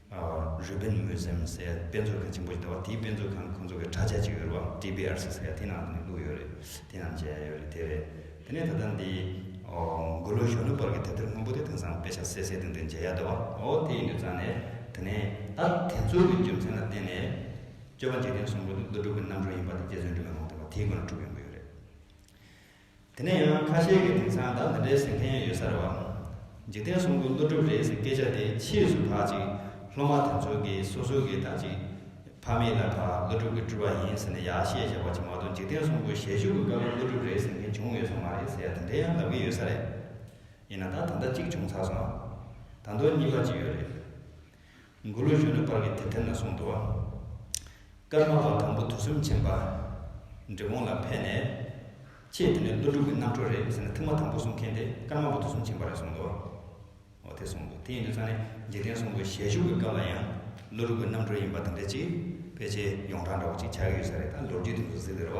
རུས་སྦལ་མོའི་སེམས་གསལ་དཔེ་མཛོད་ཁང་ཆེན་པོ་ཞིག་དང་བ་དེའི་དཔེ་མཛོད་ཁང་ཁོང་ཚོ་གི་དྲ་ཆ་ཅིག་ཡོད་རེད་བ TBRC ཟེར་ཡ་དེ་ནང་དུ་ནས་བླུགས་ཡོད་རེད་དེ་རྣམས་མཇལ་ཡ་ཡོད་རེད་དེ་རེད་དེ་ནས་ད་ལྟ་འདི་འགོ་ལོ་གཞོན་ནུ་བར་གྱི་དེབ་ཐེར་སྔོན་པོ་དེ་དེང་སང་དཔེ་ཆ་གསལ་གསལ་སྟོན་དུ་མཇལ་ཡ་འདུག་བ། ཨོ་དེ་ཡིན་དུས་ཙང་ནས་དེ་ནས་ད་དེ་ཚོ་གི་རྒྱུ་མཚན་ལ་བརྟེན་ནས། སྤྱོད་པ་འཇིག་རྟེན་གསུམ་པོ་འདི་བློ་གྲོས་ཀྱི་རྣམ་རོལ་ཡིན་པ་དེ་རྗེ་བཙུན་དྲི་མེད་ལྷུན་རྟེན་པ་དེའི་སྒོ་ནས་གྲུབ་ཡོང་གི་ཡོད་རེད། དེ་ནས་ཡང་ཁ་ཤས་ཀྱིས་དེང་སང་བདག་འདི་འདྲའི་ཟེར་མཁན་ཡོད་ཚར་བ། འཇིག་རྟེན་གསུམ་པོ་ཀླུ་སྒྲུབ་རེད་ཟེར་སྐད་ཆ་དེ་ཕྱིས་སུ་བག་ཅིག་སློབ་མ་དེ་ཚོ་གིས་སོ་སོ་གི་དང་ཅིག་ཕ་མེས་ལ་ཕ་ཀླུ་སྒྲུབ་ཀྱི་སྤྲུལ་བ་ཡིན་ཟེར་ནས་ཡག་བཤད་བཞག་པ་ཅིག་མ་གཏོགས་འཇིག་རྟེན་གསུམ་པོ་ཞལ་བཞུགས་ཀྱི་སྐབས་ཀླུ་སྒྲུབ་རེད་ཟེར་མཁན་བྱུང་ཡོད་ས་མ་རེད་ཟེར་ཡག་དེ་འདྲའི་ཡང་ལབ་ཀྱི་ཡོད་ས་རེད། ཡིན་ན་ད་ད་ལྟ་གཅིག་བྱུང་ཚར་སོང། ད་མདོར་གཉིས་པ་ཅིག་ཡོད་རེད། མགུ་རུ་གཞོན་ནུ་བར་གྱི་དད་ལྡན་ལ་གསུང་དུའང། སྐར་མ་བ་དང་པོ་དུས་གསུམ་མཁྱེན་པ། འབྲི་གུང་ལ་ཕེབས་ནས། ཁྱེད་འདི་ནི་ཀླུ་སྒྲུབ་ཀྱི་རྣམ་འཕྲུལ་རེད་ཟེར་ནས་ཐུགས་མ་དང་པོ་གསུང་མཁན་དེ་སྐར་མ་བ་དུས་གསུམ་མཁྱེན་པ་རེད་གསུང་དུ། འོ་དེ་གསུང་དུ་དེ་ཡིན་དུས་ཚང་ནས་འཇིག་རྟེན་གསུམ་པོའི་ཞལ་བཞུགས་ཀྱི་སྐབས་ལ་ཡང། ཀླུ་སྒྲུབ་ཀྱི་རྣམ་འཕྲུལ་ཡིན་པ་དེ་འདྲ་ཅིག་ཕལ་ཆེར་ཡོངས་གྲགས་འདྲ་བོ་ཅིག་ཆགས་ཀྱི་ཡོད་ས་རེད་ད་ལོ་རྒྱུས་དེ་ཚོ་གཟིགས་ཟེར་བ།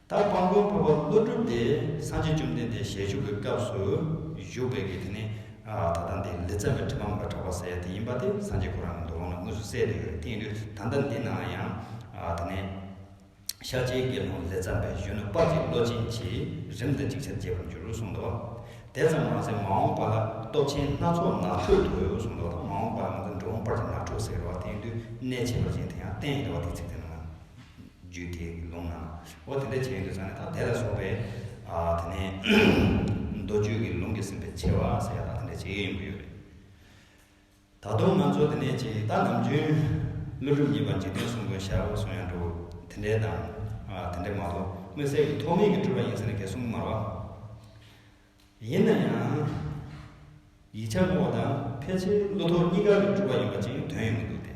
ད་སྤང་མགོན་ཕུར་པ་ཀླུ་སྒྲུབ་དེ་སངས་རྒྱས་བཅོམ་ལྡན་འདས་ཞལ་བཞུགས་ཀྱི་སྐབས་སུ་བཞུགས་པའི་གི་དེ་ནི་ད་ལྟ་འདི་ལི་ཙྪ་བའི་གྲི་འབངས་ལ་གྲགས་པ་ཟེར་ཡ་དེ་ཡིན་པ་དེ་སངས་རྒྱས་ཀུན་རང་གི་མདོ་ལུང་ན་དངོས་སུ་གསལ་ལེ་ཡོད་རེད་དེ་ཡིན་དུས་ད་ལྟ་འདི་ན་ཡང་དེ་ནས་ཤར་རྗེའི་དགེ་སློང་ལི་ཙྪ་བའི་གཞོན་ནུ་དཔའ་གཅིག་བློ་ཆེན་གྱིས་རིམ་དང་ཅིག་ཆར་རྒྱས་པར་འགྱུར་གསུངས་ཏོ། དེ་ཙམ་མ་ཟད་མ་འོངས་པ་ལ་སྟོབས་ཆེན་སྣ་ཚོགས་ནགས་ཁྲོད་དུ་གསུངས་ཏོ་མ་འོངས་པ་ལ་ང་ཚོ་འགྲོ་འོང་བར་གྱི་ནགས་ཁྲོད་ཟེར་བ་དེ་ཡིན་དུས་གནས་བྱེད་པ་ཅན་དེ་ཡང་བསྟན་ཡོད་པ་དེ་ཚིག་དོན་ནང། རྒྱུད་དེ་ལུང་ན། འོ་དེ་འདྲ་བྱས་ཡོན་དུ་ཚང་ནས་ཐ་དད་ལ་སོགས་པའི། དེ་ནས། མདོ་རྒྱུད་ཀྱི་ལུང་གིས་ཟིན་པའི་ཆེ་བ་ཟེར་ཡག་ལ་དེ་འདྲ་བྱེད་ཡོན་ཡོད་རེད། ད་དུང་ང་ཚོ་དེ་ནས་ཇི་ལྟ་ནམ་རྒྱུན། ཀླུ་སྒྲུབ་གཉིས་པ་འཇིག་རྟེན་གསུམ་མགོན་ཞྭ་བོ་གསུང་ཡང་འགྲུབ་དེ་འདྲའི་དང། དེ་འདྲ་མ་གཏོགས་དམིགས་བསལ་གྱི་ཐོགས་མེད་ཀྱི་སྒྲུབ་པ་ཡིན་ཟེར་ན་འགལ་གསུམ་མར་བ། ཡིན་ན་ཡང། ཡིག་ཆ་བསྔོག་པ་དང་ཕལ་ཆེར་ཀླུ་ཐོགས་གཉིས་ཀ་གི་སྒྲུབ་པ་ཡིན་པ་ཅིག་དོན་ཡོང་གི་འདུག་སྟེ།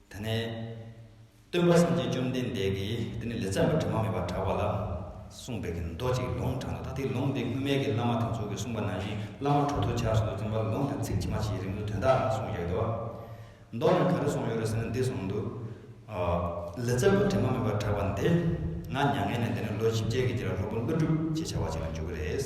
དེ་ནས། སྟོན་པ་སེམས་ཅན་བཅོམ་ལྡན་འདས་ཀྱིས་དེ་ནས་ལས་བརྩམས་པའི་དྲི་མ་མེད་པར་གྲགས་པ་ལ། གསུངས་པའི་མདོ་གཅིག་ལུང་དྲངས་ཏོ་ད་དེའི་ལུང་འདི་སྔོན་མེད་ཀྱི་བླ་མ་དེ་ཚོགས་ཀྱིས་གསུངས་པ་ནང་བཞིན་བླ་མ་དྲུག་ཏུ་ཆགས་སོ་དུ་བཙུན་པ་ལུང་དེ་ཚིག་ཇི་མ་ཇིའི་རིང་དུ་དོན་དག་རྣམས་གསུངས་ཡོད་དོ། མདོ་ནི་ག་རེ་གསུངས་ཡོད་རེ་ཟེར་ན་འདི་གསུངས་འདུག། ལས་བརྩམས་པའི་དྲི་མ་མེད་པར་གྲགས་པ་འདི། ང་མྱ་ངན་ལས་འདས་ནས་ལོ་བཞི་བརྒྱད་ཀྱི་རྗེས་ལ་ལྷོ་པོ་ཀླུ་སྒྲུབ་ཅེས་བྱ་བ་ཅིག་ལ་འཇུག་གི་རེད།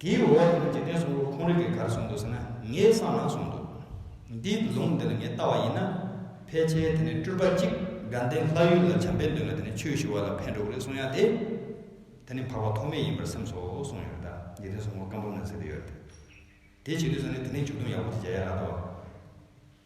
དེའི་འོག་ནས་འཇིག་རྟེན་སོགས་ཁོང་རིགས་ཀྱི་གར་སོང་འདུག་ཟེར་ན་ངའི་བསམ་ལ་སོང་འདུག། འདིའི་ལུང་འདི་ལ་ངས་བལྟ་བ་ཡིན་ན། ཕལ་ཆེར་དེ་ནི་སྤྲུལ་པ་གཅིག་དགའ་ལྡན་ལྷ་ཡུལ་ལ་བྱམས་པས་འདོད་ན་དེ་ནི་ཆོས་ཞུ་བ་ལ་ཕན་འགྲོ་གི་རེད་གསུངས་ཡག་དེ། དེ་ནི་འཕགས་པ་ཐོགས་མེད་ཡིན་པར་སེམས་སོ་གསུངས་ཡོད་རེད་ད་འཇིག་རྟེན་སོགས་ངོ་སྐམ་པོ་ནང་ཟེར་གྱི་ཡོད་རེད། དེ་བྱེད་དུས་ཟེར་ན་དེ་ནི་འཇུག་སྡོམ་ཡག་པོ་དེ་བྱ་ཡག་རག་ཏུ།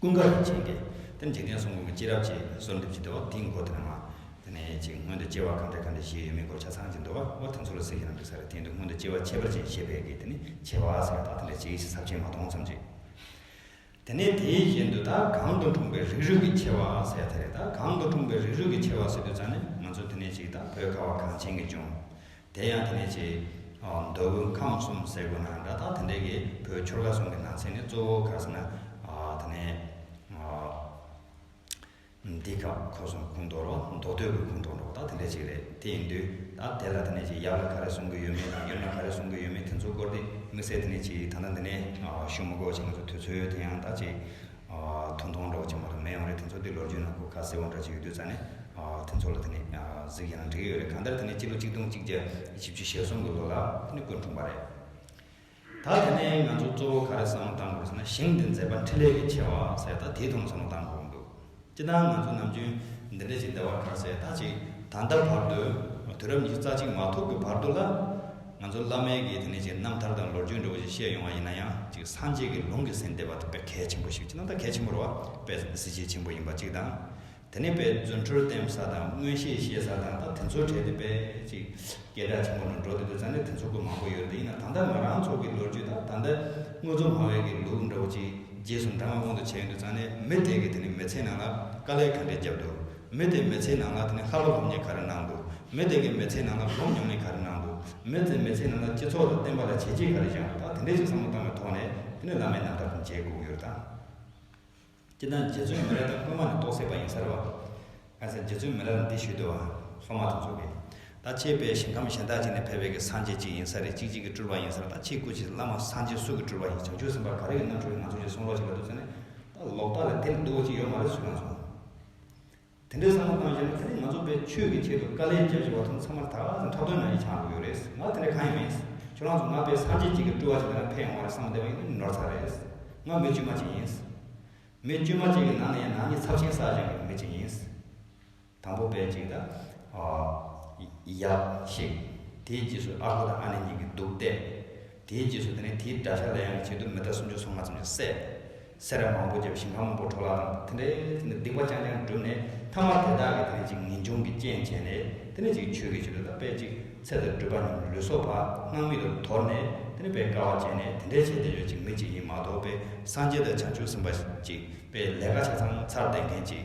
ཀུན་དགའ་བོ་བྱིན་ཏེ། དེར་འཇིག་རྟེན་སྲུང་མ་མི་ཅི་རབ་ཅེས་གསོལ་འདེབས་ཀྱིས་འདུལ་བ་འདི་མགོ་དེ་ན་མ། དེ་ནས་ཅིག་སྔོན་དུ་སྐྱེ་བ་གང་དེ་གང་དེ་བཞིའི་ཡུལ་མིན་གོ་ཆ་ཚང་གཅིག་འདུལ་བ་བོ་དེ་ཚོ་ལ་ཟེར་གྱི་རང་འདོད་ས་རེ་དེའི་འདུལ་སྔོན་དུ་སྐྱེ་བ་ཁྱད་པར་ཅན་ཤེས་པས་ཀྱི་དེ་ནི་བྱེད་པ་ཟེར་བ་དག་དེ་འདྲ་ཇི་སྲིད་ཟབ་ཆེན་མ་མཐོང་ཙམ་གྱིས། དེ་ནས་དེའི་བཞིན་དུ་དག་གང་དུ་འཁྲུངས་པའི་རིགས་རུས་ཀྱི་ཆེ་བ་ཟེར་དེ་རེད་དག་གང་དུ་འཁྲུངས་པའི་རིགས་རུས་ཀྱི་ཆེ་བ་ཟེར་དུས་ཙང་ནས་ང་ཚོ་དེ་ནས་ཅིག་དག་བོད་ཁ་བ་གངས་ཅན་གྱི་ལྗོངས། དེ་ཡང་དེ་ནས་ཅི། མདོ་དབུས་ཁམས་གསུམ་ཟེར་དགོས་ན་འདྲ་ཐང་དེ་འདྲའི་གི་བོད་ཆོལ་ཁ་ཟུང་གི་ནང་ཚན་ནི་གཙོ་བོ་ག་ཟེར་ན། དེ་ནས། འདི་སྐབས་ཁོ་གསུམ་ཁུངས་གཏོགས་རོགས་མདོ་སྟོད་ཀྱི་ཁུངས་གཏོགས་རོགས་ད་དེ་འདྲ་ཅིག་རེད་དེ་ཡིན་དུས་ད་དེ་ལ་དེ་ནས་ཅི་ཡབ་ལ་ག་རེ་གསུང་གི་ཡོད་མེད་དང་ཡུམ་ལ་ག་རེ་གསུང་གི་ཡོད་མེད་དེ་ཚོ་སྐོར་དེ་དམིགས་བསལ་དེ་ནས་ཅི་ད་ལྟ་འདི་ནས་ཞུ་མི་དགོས་ཅེས་ང་ཚོ་དུས་ཚོད་དེ་ཡང་ད་ཅིག། ཐུང་ཐུང་འདྲ་བོ་ཅིག་མ་གཏོགས་མེད་ཡོང་རེད་དེ་ཚོ་དེ་ལོ་རྒྱུས་ནང་ཁུག་ཁ་གསལ་བོ་འདྲ་ཅིག་ཡོད་དུས་ཙང་ནས་དེ་ཚོ་ལ་དེ་ནས་གཟིགས་ཡག་ན་འགྲིག་གི་ཡོད་རེད་གང་ལྟར་དེ་ནས་སྤྱི་ལོ་གཅིག་སྟོང་གཅིག་བརྒྱ་བཞི་བཅུ་ཞེ་གསུམ་གི་ལོ་ལ་དེ་ནས་ཀུན་འཁྲུངས་པ་རེད། ད་དེ་ནས་ང་ཚོ་གཙོ་བོ་ག་རེ་བསམ་བློ་བཏང་དགོས་ཟེར་ན་ཞིང་འདི་མཛེས་པ་འཕྲིན་ལས་ཀྱི་ཆེ་བ་ཟེར་ད་དེ་དུང་བསམ་བློ་བཏང་དགོས་ཀྱི་འདུག། སྤྱིར་ན་ང་ཚོ་ནམ་རྒྱུན་འདི་འདྲ་ཞིག་འདྲ་བར་ག་ཟེ་ད་ཅིག་ད་ལྟ་བར་དུ་དུས་རབས་ཉི་ཤུ་རྩ་གཅིག་མ་ཐུག་གི་བར་དུ་ལ། ང་ཚོ་བླ་མའི་གིས་དེ་ནས་ཀྱི་རྣམ་ཐར་དང་ལོ་རྒྱུས་འདྲ་བོ་ཞིག་བཤད་ཡོང་བ་ཡིན་ན་ཡང་ཅིག་སངས་རྒྱས་ཀྱི་ལུང་གི་ཟིན་བདེ་བ་དེ་དཔེ་གལ་ཆེན་པོ་ཞིག་སྤྱིར་ན་ད་གལ་ཆེན་པོར་བ་དཔེ་ཟིན་བདེ་ཟིན་བྱེད་ཆེན་པོ་ཡིན་པ་གཅིག་དང། དེ་ནས་དཔེ་མཛོད་འཕྲུལ་བསྟན་ས་དང་མངོན་ཤེས་ཤེས་ས་དང་ད་དེ་ཚོའི་གྲས་དེ་དཔེ་ཅིག། སྐད་གྲགས་ཆེན་པོ་ནང་འགྲོ་བསྡད་དུས་ཙང་ལས་དེ་ཚོགས་ཀུན་མང་པོ་ཡོད་དེ་ཡིན་ནའང་ད་ལྟ་ང་རང་ཚོགས་ཀྱི་ལོ་རྒྱུས་དང་ད་ལྟ་དངོས་གཙོ་མ་བས་ཀྱི་ལུགས་འདྲ་བོ་ཅིག་རྗེས་སུ་འབྲང་བ་མངོན་དུ་བྱས་ཡོད་དུས་ཙང་ལས་མི་དེ་གིས་དེ་ནི་མི་ཚེའི་ནང་ལ་དཀའ་ལས་ག་འདྲའི་བརྒྱབ་འདུག་མི་དེས་མི་ཚེའི་ནང་ལ་དེ་ནི་ཧ་ལོ་སློབ་གཉེར་ག་རེ་གནང་འདུག་མི་དེ་གིས་མི་ཚེའི་ནང་ལ་སྒོམ་ཉམས་ལེན་ག་རེ་གནང་འདུག་མི་དེས་མི་ཚེའི་ནང་ལ་སྤྱི་ཚོགས་ལ་བརྟེན་པ་ལ་བྱས་རྗེས་ག་རེ་བཞག་འདུག་ད་དེ་འདྲའི་ཅིག་བསམ་བློ་བཏང་བའི་ཐོག་ནས་དེ་ནི་བླ་མའི་རྣམ་ཐར་དང་མཇལ་སྐུ་གཡུར་དང། སྤྱིར་ན་རྗེ་བཙུན་མི་ར་དང་སྔོན་མ་ནས་རྟོགས་སད་པ་ཡིན་ས་རོ། གལ་སྲིད་རྗེ་བཙུན་མི་ར་ལ་འདི་ཞུས་འདོད་བ་སོང་མ་ཐུབ་ཚོད་རེད། ད་ཁྱེད་པའི་ཞིང་ཁམས་གཞན་དག་ཅིག་ནས་ཕེབས་པའི་གི་སངས་རྒྱས་གཅིག་ཡིན་ས་རེད་གཅིག་གཅིག་གི་སྤྲུལ་པ་ཡིན་ས་རེད་ད་ཁྱེད་སྐུ་ཕྱིར་བླ་མ་སངས་རྒྱས་སུ་གི་སྤྲུལ་པ་ཡིན་བྱང་ཆུབ་སེམས་དཔའ་ག་རེ་ཡིན་ནང་ཆོས་ཀྱི་ནང་ཆོས་ཀྱི་གསུང་ཀློག་བྱེད་ལ་འདུག་ས་ནས་ད་ལོག་ལྟ་ལ་དེ་ལས་སྡུག་བ་ཅིག་ཡོད་མ་རེད་ཟུར་ལངས་སོང། དེ་འདྲའི་བསམ་བློ་གཏང་རྒྱུ་ནི་ད་ནི་ང་ཚོ་པས་ཆོས་ཀྱི་ཆེད་དུ་དཀའ་ལས་རྒྱག་བཞིན་པ་ཚོ་ཚང་མར་ད་ག་ཚོད་ཁྲག་དོན་ན་ཡིད་ཆགས་དགོས་ཀྱི་ཡོད་རེད། ང་དེ་འདྲ་གང་ཡང་མིན། ཁྱོད་རང་ཚོ་ང་པས་སངས་རྒྱས་གཅིག་གི་སྤྲུལ་བ་ཞིག་ཡིན་ན་ཕན་ཡོང་བ་རེད་བསམ་བསྡད་པ་ཡིན་ནི་ནོར་ཚ་རེད། ང་མི་དཀྱུས་མ་ཅིག་ཡིན། མི་དཀྱུས་མ་ཅིག་གི་ནང་ནས་ཡང་ནང་མི་ཚབས་ཆེན་བསགས་སྦྱང་གི་མི་ཅིག་ཡིན། དང་པོ་པས་ཅིག་དང། ཡག་ཤིག། དེའི་རྗེས་སུ་ཨ་ཁུ་དང་ཨ་ནེ་གཉིས་ཀྱིས་འདུག་སྟེ། དེའི་རྗེས་སུ་དེ་ནས་དེའི་དགྲ་ཤ་ལ་ཡང་གི་བྱེད་དུ་མི་དགྲ་སུམ་ཅུ་སོ་ལྔ་ཙམ་ཡང་བསད། སེ་ར་མང་པོ་བརྒྱབ་ཞིང་ལྷ་མོ་པོ་གྲོ་ལ་རྣམས་དང་དེ་འདྲའི་ཚུལ་འདི་སྡིག་པ་རྐྱང་རྐྱང་བསྒྲུབས་ནས་ཐ་མར་དེ་དག་གིས་དེ་ནས་ཅིག་ངེས་འབྱུང་གི་རྐྱེན་བྱས་ནས་དེ་ནས་ཅིག་ཆོས་ཀྱི་བྱེད་ལུས་དང་དཔལ་ཅིག་ཚེ་དང་སྦྲུལ་པ་རྣམས་ལུས་སྲོག་བག་སྣང་མིག་ལ་དོར་ནས་དེ་ནས་པའི་སྐལ་བ་བྱས་ནས་དེ་འདྲའི་བྱེད་དེ་ལོས་ཅིག་མི་ཅིག་ཡིན་མ་གཏོགས་པའི་སངས་རྒྱས་དང་བྱང་ཆུབ་སེམས་དཔའ་ཅིག་པའི་ལས་ཀ་ཆ་ཚང་ཚར་བསྡད་མཁན་ཅིག།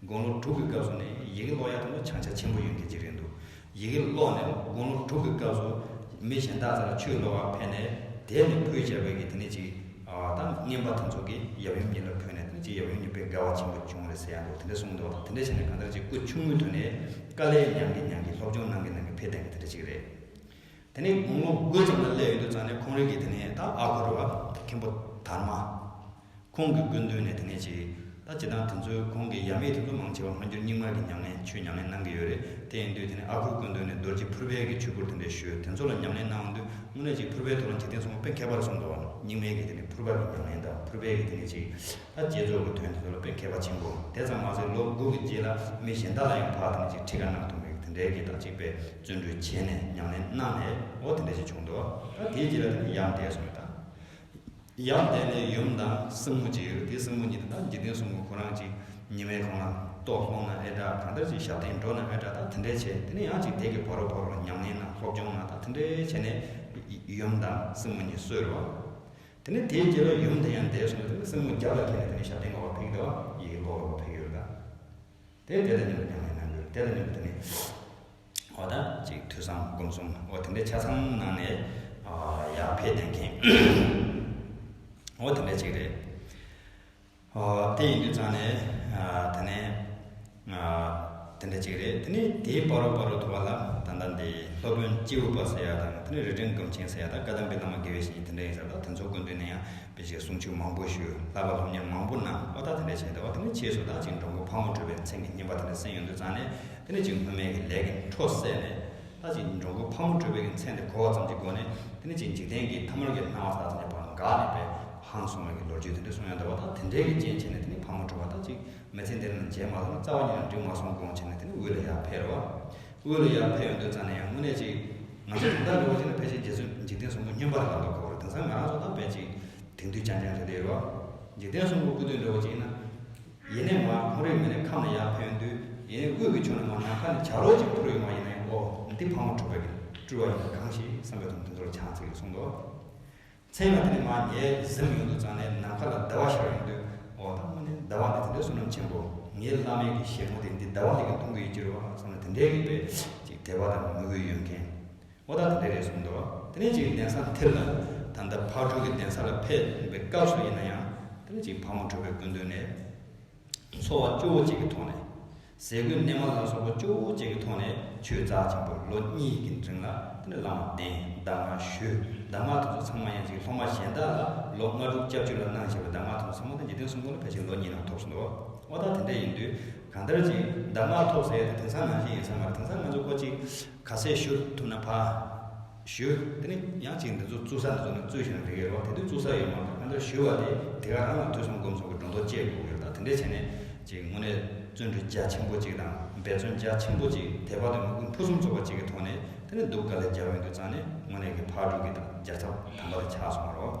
དགུང་ལོ་དྲུག་གི་སྐབས་སུ་ནི་ཡི་གེ་ཀློག་ཡག་ཐུབ་ན་བྱང་ཆ་ཆེན་པོ་ཡོད་མཁན་ཅིག་རེད་འདུག་ཡི་གེ་ཀློག་ནས་དགུང་ལོ་དྲུག་གི་སྐབས་སུ་མི་གཞན་དག་ཚང་ཆུའི་ལོགས་ཁར་ཕེབས་ནས་དེད་ནས་ཕུལ་བྱ་བའི་གི་དེ་ནས་ཅིག་ད་རྔན་པ་དེ་ཚོ་གི་ཡབ་ཡུམ་གཉིས་ལ་ཕུལ་ནས་དེ་ནས་ཅིག་ཡབ་ཡུམ་གཉིས་དཔེ་དགའ་བ་ཆེན་པོ་བྱུང་རེད་ཟེར་ཡག་འདུག་དེ་འདྲ་གསུངས་འདུག་ད་དེ་འདྲ་བྱས་ནས་གང་ལྟར་ཅིག་སྐུ་ཆུང་ངུའི་དུས་ནས་དཀའ་ལས་མྱངས་གི་མྱངས་གི་སློབ་སྦྱོང་གནང་གི་གནང་གི་ཕེབས་ལྡན་གི་དེ་འདྲ་ཅིག་རེད། དེ་ནས་དགུང་ལོ་དགུ་ཙམ་ལ་སླེབས་ཡོད་འདུག་ཙང་ནས་ཁོང་རིགས་གི་དེ་ནས་ད་ཨ་ཁུ་རུ་བ་མཁན་པོ་དར་མ། ཁོང་གི་སྐུ་མདུན་ནས་དེ་ནས་ཅི། ད་ཇི་ལྟར་དེ་ཚོས་ཁོང་གི་ཡབ་མེས་དེ་ཚོ་མང་ཆེ་བ་སྔ་འགྱུར་རྙིང་མ་གི་ཉམས་ལེན་ཆུས་ཉམས་ལེན་གནང་གི་ཡོད་རེད་དེ་ཡིན་དུས་དེ་ནས་ཨ་ཁུ་སྐུ་མདུན་ནས་རྡོ་རྗེ་ཕུར་པའི་གི་ཆོས་སྐོར་དེ་འདྲའི་ཞུས་དེ་ཚོ་ལ་ཉམས་ལེན་གནང་དུས་དངོས་གནས་ཅིག་ཕུར་པའི་ཐོག་ལ་འཇིག་རྟེན་གསུམ་པོ་དཔེ་མཁས་པ་རུ་གསུངས་འདུག་ཨང་རྙིང་མའི་གི་དེ་ནས་ཕུར་པ་གི་ཉམས་ལེན་དང་ཕུར་པའི་གི་དེ་ནས་ཅིག་ཨ་བརྒྱད་ཚོགས་ཀྱི་དོན་དེ་ཚོ་ལ་དཔེ་མཁས་པ་ཆེན་པོ་དེ་ཙམ་མ་ཟད་ལོ་དགུ་གི་རྗེས་ལ་མི་གཞན་དག་ལ་ཡང་ཕར་དེ་ནས་ཅིག་ཁྲིད་ཀ་གནང་ཐུབ་མེད་གི་དེ་འདྲའི་གི་དག་ཅིག་པས་བརྩོན་འགྲུས་བྱས་ནས་ཉམས་ལེན་གནང་ནས་འོ་དེ་འདྲ་ཅིག་བྱུང་འདུག་ཨ་དེའི་རྗེས་ལ་དེ་ནས་ཡང་འདས་སོང་ཡོད་ཨང། ཡང་དེ་ནས་ཡུམ་དང་སྲིང་མོ་གཅིག་ཡོད་དེ་སྲིང་མོ་ཉིད་དང་འཇིག་རྟེན་གསུམ་གོ་རང་གཅིག་ཉི་མའི་གོང་ན་ཏོག་ལྷུང་ན་ཨེ་གྲག་གང་ལྟར་གྱི་ཞག་སྟེང་འགྲོ་ན་ཨེ་གྲག་དང་དེ་འདྲའི་བྱེད་དེ་ནས་ཡང་ཅིག་དལ་གྱི་བ་རོ་བ་རོ་ཉམས་ལེན་ན་སློབ་སྦྱོང་ན་དང་དེ་འདྲའི་བྱེད་ནས་ཡུམ་དང་སྲིང་མོ་གཉིས་གསོས་རོ། དེ་ནས་དེའི་རྗེས་ལ་ཡུམ་དེ་ཡང་འདས་སོང་བས་དེ་ནས་སྲིང་མོ་བརྒྱ་ལ་ཁེལ་ནས་དེ་ནས་ཞག་སྟེང་འགོ་བ་ཕིག་ཟླ་བ་ཡི་འགོ་བ་རོ་ཕིག་ཡོད་ལ། དེ་དེ་ལ་ཉོན་ཀྱང་ཡང་འགྱུར་དེ་ལ་ཉོན་དུ་ནི། འོ་ད་ཅིག་ཐོས་བསམ་སྒོམ་གསུམ་འོ་དེ་འདྲའི་ཆ་ཚང་གནང་ནས་ཡར་འཕེལ་བསྟེན་མཁན། འོ་དེ་འདྲ་ཅིག་རེད། དེ་ཡིན་དུས་ཚང་ནས་དེ་ནས་དེ་འདྲ་ཅིག་རེད་དེ་ནས་དེའི་སྤ་རོ་སྤ་རོ་དུ་བ་ལ་ད་ལྟ་འདི་སློབ་དཔོན་སྤྱི་བོ་པ་ཟེར་ཡ་དང་དེ་ནས་རི་སྒྲེང་སྒམ་ཆེན་ཟེར་ཡ་དང་བཀའ་གདམས་པའི་བླ་མ་དགེ་བའི་བཤེས་གཉེན་དེ་འདྲ་ཡིན་ས་དང་དེ་ཚོ་དགོན་སྡེ་ནས་ཡང་དེ་བཞིན་གསུང་ཆོས་མང་པོ་ཞུ། ལྷ་བ་སློབ་གཉེར་མང་པོ་གནང། བློ་ཐག་དེ་འདྲས་ཕྱིན་ཟླ་བ་དེ་འདྲས་ཕྱིས་སུ་དྭགས་གཅིག་འབྲོང་ཁུ་ཕག་མོ་བྲོས་པའི་མཚན་གྱི་སྙན་པ་དེ་འདྲས་གསན་ཡོང་དུས་ཚང་ནས་དེ་འདྲས་ཅིག་སྔོན་མེད་ཀྱི་ལས་ཀྱི་འཕྲོ་བསལ་ནས། ལྷ་གཅིག་འབྲོང་ཁུ་ཕག་མོ་བྲོས་པའི་གྱི་མཚན་དེ་གོ་བ་ཙམ་གྱི་སྒོ་ནས་དེ་འདྲས་ཅིག་འཇིག་རྟེན་གྱི་ཐ་མལ་གྱི་སྣང་བ་དག་ཙམ་གྱི་བར་འགགས་ནས་པའི་ཧང་སོང་བའི་གྱི་ལོ་རྒྱུས་དེ་འདྲས་གསུང་ཡང་ཟླ་བ་དག་དེ་འདྲས་ཀྱི་རྐྱེན་བྱས་ནས་དེ་ནི་ཕག་མོ་བྲོས་པ་དག་ཅིག་མི་ཚེ་འདི་ན་མཇལ་མ་སོང་རྩ་བ་ཉིད་ལ་འགྲིག་མ་སོང་དགོངས་བྱས་ནས་དེ་ནི་དབུས་ལ་ཡར་འཕེལ་བ། དབུས་ལ་ཡར་འཕེལ་ཡོང་དུས་ཙམ་ན་ཡང་དངོས་གནས་ཅིག། ང་ཚོ་དེང་སང་ལོ་གཅིག་ལ་ཕལ་ཆེར་རྗེ་བཙུན་འཇིག་རྟེན་གསུམ་པོ་སྨྱོན་པ་ལ་ལམ་པ་གོ་རེ་དེང་སང་ང་རང་ཚོ་ལྟ་བུ་ཅིག་དེང་དུས་རྐྱང་རྐྱང་དུ་བསྡད་ཡོད་པ། འཇིག་རྟེན་གསུམ་པོ་སྐུ་དུས་འདྲ་བོ་ཅིག་ན། ཡེ་ནས་མར་ཁོང་རེས་མི་ནས་ཁམས་ལ་ཡར་འཕེལ་ཡོང་དུས་ཡེ་ནས་དབུས་ཀྱི་ཕྱོགས་ནས་མར་ནམ་མཁའ་ནས་བྱ་རོག་ཅིག་འཕུར་ཡོང་བ་ཡིན་ན་ཡང་ཨོ་འདི་ཕག་མོ་འཕྲོག་པའི་སྤྲུལ་བ་ཡིན་ན་གང་ཞིག་བསམ་པའི་དུམ་བུ་མདོ་ལ་འཕྱང་ཚིག་གིས་གསུངས་འདུག། མཚན་མོ་དེ་ནི་མ་ངའི་གཟིམ་ཡོང་དུ་ཙང་ནས་ནམ་མཁའ་ལ་ཟླ་བ་ཤར་ཡོང་དུས། འོ་ད་མོ་ནི་ཟླ་བ་འདི་དེ་འདྲའི་སུན་སྣང་ཆེན་པོ། ངའི་བླ་མའི་གི་ཞལ་ངོ་དེ་འདི་ཟླ་བ་འདི་གི་མཐོང་གི་ཡོད་ཅེས་རོ་ཨ་བསམ་ན་དེ་འདྲའི་རིགས་པའི་ཅིག་དད་པ་དང་མོས་གུས་ཡོད་མཁན། འོ་ད་དེ་འདྲའི་རེད་གསུངས་འདུག་དེ་ནས་ཅིག་གདན་ས་འཐེར་ལ། ད་ལྟ་ཕག་གྲུ་གི་གདན་ས་ལ་ཕེབས་པའི་སྐབས་སུ་ཡིན་ན་ཡང། དེ་ནས་ཅིག་ཕག་མོ་གྲུ་པའི་དགོན་སྟོད་ནས། འཚོ་བ་སྐྱོ་བོ་ཅིག་གི་ཐོག་ནས། ཟས་གོས་གནས་མལ་ལ་སོགས་པ་ཅུང་བོ་བཅས་ཀྱི་ཐོག་ནས་ཆོས་རྫ་ཆེན་པོར་ལོ་གཉིས་ཀྱི་འབྲིང་ལ་དེ་ནས་བླ་མ་བསྟེན་གདམས་ངག་ཞུ་གདམས་ངག་དེ་ཚོ་ཚང་མ་ཡན་ཆད་ཀྱི་སློབ་མ་གཞན་དག་ལ་ལོ་ལྔ་དྲུག་བཅའ་བཅུ་ལ་གནང་བྱས་པའི་གདམས་ངག་ཐོབ་ཚང་མ་དང་འཇིག་རྟེན་གསུམ་གང་ལ་ཕལ་ཆེར་ལོ་གཉིས་ནང་ཐོབ་ཟིན་ཏོ། ཨོ་ད་དེ་འདྲ་ཡིན་དུས་གང་ལྟར་གྱིས་གདམས་ངག་ཐོབ་ཟེར་ཡོད་དུས་དེང་སང་ནང་བཞིན་ཡིན་ས་མ་རེད་དེང་སང་ང་ཚོ་ཀོ་ཅིག་ག་ཚད་ཞུ་ཐུབ་ན་ཕ། ཞུ། དེ་ནི་ཡང་གཅིག་འདི་ཚོ་བཙུགས་ས་འདི་ཚོ་ནི་བཙུགས་ཤིང་རེ་འགའི་རོགས་དེ་དུས་བཙུགས་ས་ཡོད་མ་རེད་ཨ་མདོར་ཞུ་བ་དེ་དེ་ག་རང་ལ་དུས་གསུམ་སྒོམ་སོགས་ཀྱི་སྒྲོ་འདོགས་བཅད་དགོས་ཀྱི་རེད་ད་དེ་འདྲས་བྱས་ནས་ཅིག་དངོས་གནས་བརྩོན་འགྲུས་རྒྱ་ཆེན་པོ་ཅིག་དང་འབད་བརྩོན་རྒྱ་ཆེན་པོ་ཅིག་དལ་བག་དུ་མི་ཀུན་ཕུན་སུམ་ཚོགས་པ་ཅིག་གི་ཐོག་ནས་དེ་ནི་སྡུག་དཀའ་ལས་རྒྱལ་བའི་འདུད་གཙང་ནི་དངོས་གནས་ཀྱི་ཕར་འགྲོ་གི་དང་རྒྱལ་ཚབ་དམ་པ་དེ་ཆགས་སོང་བ་རོགས།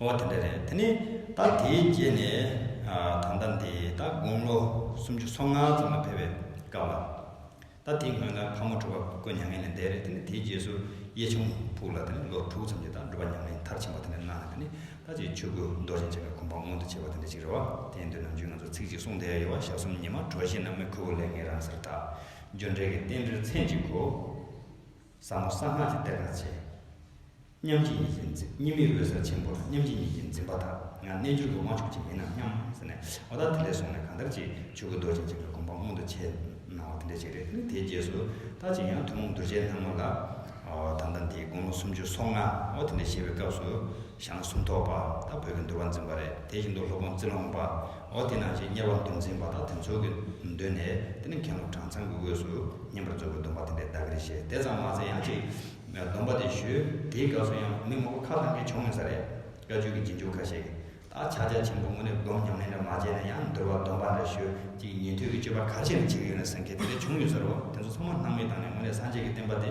འོ་དེ་འདྲ་རེད་དེ་ནི་ད་དེའི་རྗེས་ནས་ད་ལྟ་འདི་ད་དགུང་ལོ་སུམ་ཅུ་སོ་ལྔ་ཙམ་ལ་ཕེབས་པའི་སྐབས་ལ། ད་དེ་སྔོན་ལ་ཕ་མོ་གྲུ་པ་བཀོད་མྱ་ངན་ལས་འདས་རེད་དེ་ནི་དེའི་རྗེས་སུ་གཡས་ཆུང་ཕུག་ལ་དེ་ནི་ལོ་དྲུག་ཙམ་གྱི་ད་འགྲུ་པ་མྱ་ངན་མཐར་ཕྱིན་པ་དེ་འདྲ་གནང་ནས་དེ་ནི་ད་ཅིག་ཆོས་སྐུ་རྡོ་རྗེ་འཆང་གི་གོ་འཕང་མངོན་དུ་བྱས་པ་དེ་འདྲ་ཅིག་རེད་བ། དེ་ཡིན་དུས་ནམ་རྒྱུན་ང་ཚོ་ཚིག་གཅིག་གསུང་བསྡད་ཡོད་བ་ཞག་གསུམ་ཉི་མ་གྲོ་བཞིན་ནམ་མེ་ཁུར་བོ་ལས་ངའི་རང་སར་དྲག་འཇོ་འདྲེས་ཀྱི་རྟེན་འབྲེལ་ཚན་གཅིག་གོ། ཟབ་མོ་གསང་སྔགས་ཀྱི་གཏེར་དང་བཅས། མཉམ་གཅིག་ཉིད་ཀྱིས་འཛིན་གཉིས་མེད་འོད་གསལ་ཆེན་པོར་མཉམ་གཅིག་ཉིད་ཀྱིས་འཛིན་པ་དག་ང་རྣལ་འབྱོར་པའི་དབང་ཕྱུག་ཅིག་མིན་ནམ་སྙམ། ཟེར་ནས་བ་དག་དེ་ལས་སོང་ནས་གང་ལྟར་གྱིས་ཆོས་སྐུ་རྡོ་རྗེ་འཇིགས་པའི་དགོངས་པ་མངོན་དུ་བྱས་གནང་བ་དེ་འདྲ་ཞིག་རེད་དེའི་རྗེས་སུ་ད་ཅིག་ཡང་ཐུན་མོང་གདུལ་བྱའི་སྣང་ངོ་ལ། ད་ལྟ་འདིའི་དགུང་ལོ་སུམ་ཅུ་སོ་ལྔའོ་དེ་འདྲ་ཞེས་པའི་སྐབས་སུ། ཞང་སུམ་ཐོག་པ་དང་བོད་ཀྱི་འདུལ་བ་འཛིན་པ་རེད་དེ་བཞིན་དུ་ལྷོ་ཁོངས་རྩི་ལོང་པ་འོ་དེ་ནང་བཞིན་གཉེར་བ་འདུལ་འཛིན་པ་དང་དེ་ཚོ་གི་མདུན་ནས་དེ་ནི་མཁན་སློབ་གྲངས་ཚང་གི་དབུས་སུ་བསྙེན་པར་མཛོད་དགོས་འདུན་པ་དེ་འདྲའི་བརྡ་ཁྱེར་བཞེས་དེ་ཙམ་མ་ཚད་ཡང་ཅིག་སྡོམ་པ་དེ་ཞུས་དེའི་སྐབས་སུ་ཡང་མི་མང་པོ་ཁ་ལྷམ་གྱིས་ཕྱུང་ཡོད་ས་རེད་བཀའ་ཆོས་ཀྱི་རྗེས་འཇུག་ཁ་ཤས་ཀྱིས་ད་ཆ་རྒྱ་ཆེན་པོ་དངོས་གནས་སྒོམ་ཉམས་ལེན་འདྲ་མ་བྱས་ན་ཡང་འདུལ་བ་སྡོམ་པ་འདྲ་ཞུས་ཅིག་ཉན་ཐོས་ཀྱི་སྤྱོད་པ་ག་ཚོད་ནས་བྱེད་ཀྱི་ཡོད་ནས་ཟེར་མཁན་དེ་འདྲ་བྱུང་ཡོད་ས་རེད་བ་དེ་ཚོ་ཚང་མ་སྣང་མེད་བཏང་ནས་དངོས་གནས་སངས་རྒྱས་ཀྱི་བསྟན་པ་དེ་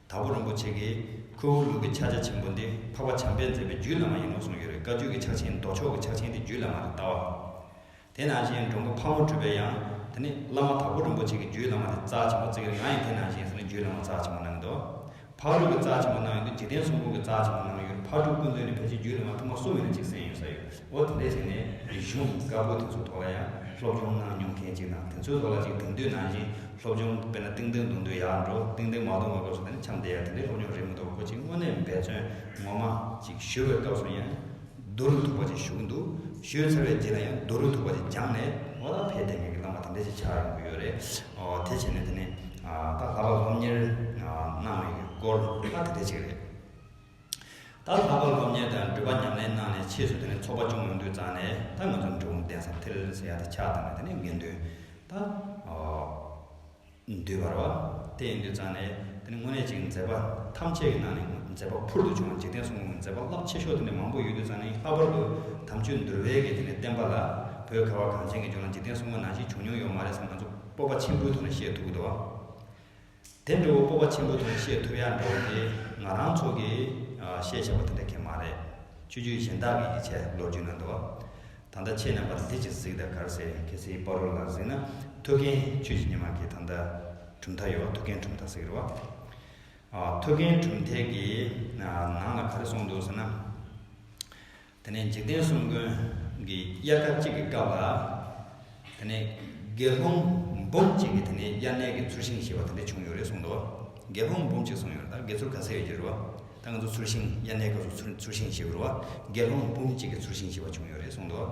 དྭགས་པོ་རིན་པོ་ཆེ་གིས་ཁོའི་འོག་ལུགས་ཀྱི་ཕྱག་རྒྱ་ཆེན་པོ་འདི་འཕགས་པ་བྱམས་པས་མཛད་པའི་རྒྱུད་བླ་མ་ཡིན་ནོ་གསུངས་ཡོད་རེད་བཀའ་བརྒྱུད་ཀྱི་ཕྱག་ཆེན་མདོ་ཕྱོགས་ཀྱི་ཕྱག་ཆེན་དེ་རྒྱུད་བླ་མར་བལྟ་བ། དེ་ནང་བཞིན་འབྲོང་པོ་ཕག་མོ་སྤྲུལ་པས་ཡང་དེ་ནི་བླ་མ་དྭགས་པོ་རིན་པོ་ཆེ་གི་རྒྱུད་བླ་མ་དེ་རྩ་ཆེན་པོ་བརྩིགས་ཡོད་ང་ཡིས་དེ་ནང་བཞིན་སུ་ནི་རྒྱུད་བླ་མ་རྩ་ཆེན་པོ་གནང་གི་འདུག་ཕག་ལུག་གི་རྩ་ཆེན་པོ་གནང་ཡོད་འདུག་འཇིག་རྟེན་གསུམ་ཀུན་གྱི་རྩ་ཆེན་པོ་གནང་ཡོད་རེད་ཕག་ཕྲུག་ཀུན་བཙོན་ནས་ཕལ་ཆེར་རྒྱུད་བླ་མ་ཐུགས་མ་གསོ་མེད་ན་གཅིག་གསན་ཡོད་ས་ཡོད། ཨོ་དེ་འདྲའི་རིགས་ནས་རིག་གཞུང་དཀར་པོ་དེ་ཚོའི་ཐོག་ལ་ཡང་སློབ་སྦྱོང་གནང་མྱོང་མཁན་གཅིག་དང་དེ་ཚོའི་ཐོག་ལ་ཅིག་དེང་དུས་ནང་བཞིན་སློབ་སྦྱོང་དཔེར་ན་ཏིང་ཏིང་གདུང་འདུལ་ཡག་འགྲོ་ཏིང་ཏིང་མ་གདུང་བའི་སྐབས་སུ་ནི་འཆམ་བསྡད་ཡག་དེ་འདྲའི་སློབ་སྦྱོང་རེད་མི་འདུག་ཁོ་ཅིག་དངོས་གནས་འབད་བརྩོན་ངོ་མ་ཅིག་ཞུ་བའི་སྐབས་སུ་ཡང་བསྡུ་རུ་ཐུག་པ་ཅིག་ཞུ་གི་འདུག་ཞུས་ཚར་བའི་རྗེས་ལ་ཡང་བསྡུ་རུ་ཐུག་པ་ཅིག་སྦྱངས་ནས་ཨོ་ད་ཕེབས་དེ་ངེད་ཀྱི་བླ་མ་དེ་འདྲ་ཅིག་ཆགས་ཡོང་གི་ཡོད་རེད་ཨོ་དེ་བྱས་ནས་དེ་ནས་ད་ལྷག་པར་སློབ་གཉེར་གནང་བའི་སྐོར་ཨ་དེ་འདྲ་ཅིག་རེད། ད་ལྷག་པར་སློབ་གཉེར་དང་འགྲུལ་པ་ཉམས་ལེན་གནང་ནས་ཕྱིས་སུ་དེ་ནས་ཚོགས་པ་ཆུང་ངུ་འདུས་བརྫངས་ནས་ད་ང་ཚོ་འབྲི་འོང་གདན་ས་ཐེལ་ས་ཡ་དང་ཕྱག་དང་ནས་དགེ་འདུན་ད་འདུས་བར་བ་དེ་འདུས་བརྫངས་ནས་དེ་ནས་དངོས་གནས་ཅིག་མཛད་པ་ཐམས་ཅད་ཀྱི་ནང་ནས་མཛད་པ་ཕུར་དུ་བྱུང་བ་འཇིག་རྟེན་གསུམ་གྱི་མཛད་པ་རླབས་ཆེ་ཤོས་དེ་ནས་མང་པོ་ཡོད་འདུས་བརྫངས་ནས་ལྷག་པར་དུ་དམ་ཆོས་འདུལ་བའི་གི་དེ་ནས་བསྟན་པ་ལ་བོད་ཁ་བ་གངས་ཅན་གྱི་ལྗོངས་ལ་འཇིག་རྟེན་གསུམ་ག་ནང་བཞིན་བྱུང་མྱོང་ཡོད་མ་རེད་བསམ་ང་ཚོ་སྤོབས་པ་ཆེན་པོའི་ཐོག་ནས་བཤད་ཐུབ་ཀྱི་འདུག་བ། དེ་འདྲ་བོ་སྤོབས་པ་ཆེན་པོ་དང་བཤད་ཐུབ་ཡག་འགྲོ་བ་དེ་ང་རང་ཚོ་གི་བཤད་བྱ་བ་དེ་འདྲ་ཁེ་མ་རེད། ཆོས་རྒྱུད་གཞན་དག་གི་ཡིག་ཆ་ལོ་རྒྱུས་ནང་དུ། ད་ལྟ་ཆེས་རྣམ་པར་གཟིགས་ཀྱི་གཟིགས་དང་གར་ཟེར་གལ་སྲིད་དཔའ་རོལ་ལ་གཟིགས་ན་ཐུགས་མཁྱེན་ཆོས་ཀྱི་ཉི་མ་གིས་ད་ལྟ་གྲུབ་མཐའ་ཡོད་བ་ཐུགས་མཁྱེན་གྲུབ་མཐའ་ཟེར་གི་རེད་བ། ཐུགས་མཁྱེན་གྲུབ་མཐའི་གི་ནང་ལ་ག་རེ་གསུངས་འདུག་ཟེར་ན། དེ་ནས་འཇིག་རྟེན་གསུམ་མགོན་གྱི་དབྱར་ཁ་གཅིག་གི་སྐབས་ལ། དེ་ནས་དགེ་སློང་འབུམ་གཅིག་གིས་དེ་ནས་དབྱར་གནས་ཀྱི་ཚུར་ཤིང་ཞེས་པ་དེ་འདྲ་བྱུང་ཡོད་རེད་གསུངས་འདུག་དགེ་སློང་འབུམ་གཅིག་གསུངས་ཡོད་ད་དགེ་ཚུར་ག་ཚད་ཡོད་ཀྱི་རེད་བ། ད་ང་ཚོ་ཚུར་ཤིང་དབྱར་གནས་སྐབས་སུ་ཚུར་ཤིང་ཞེས་འབོད་བ་དགེ་སློང་འབུམ་གཅིག་གི་ཚུར་ཤིང་ཞེས་པ་བྱུང་ཡོད་རེད་གསུངས་འདུག་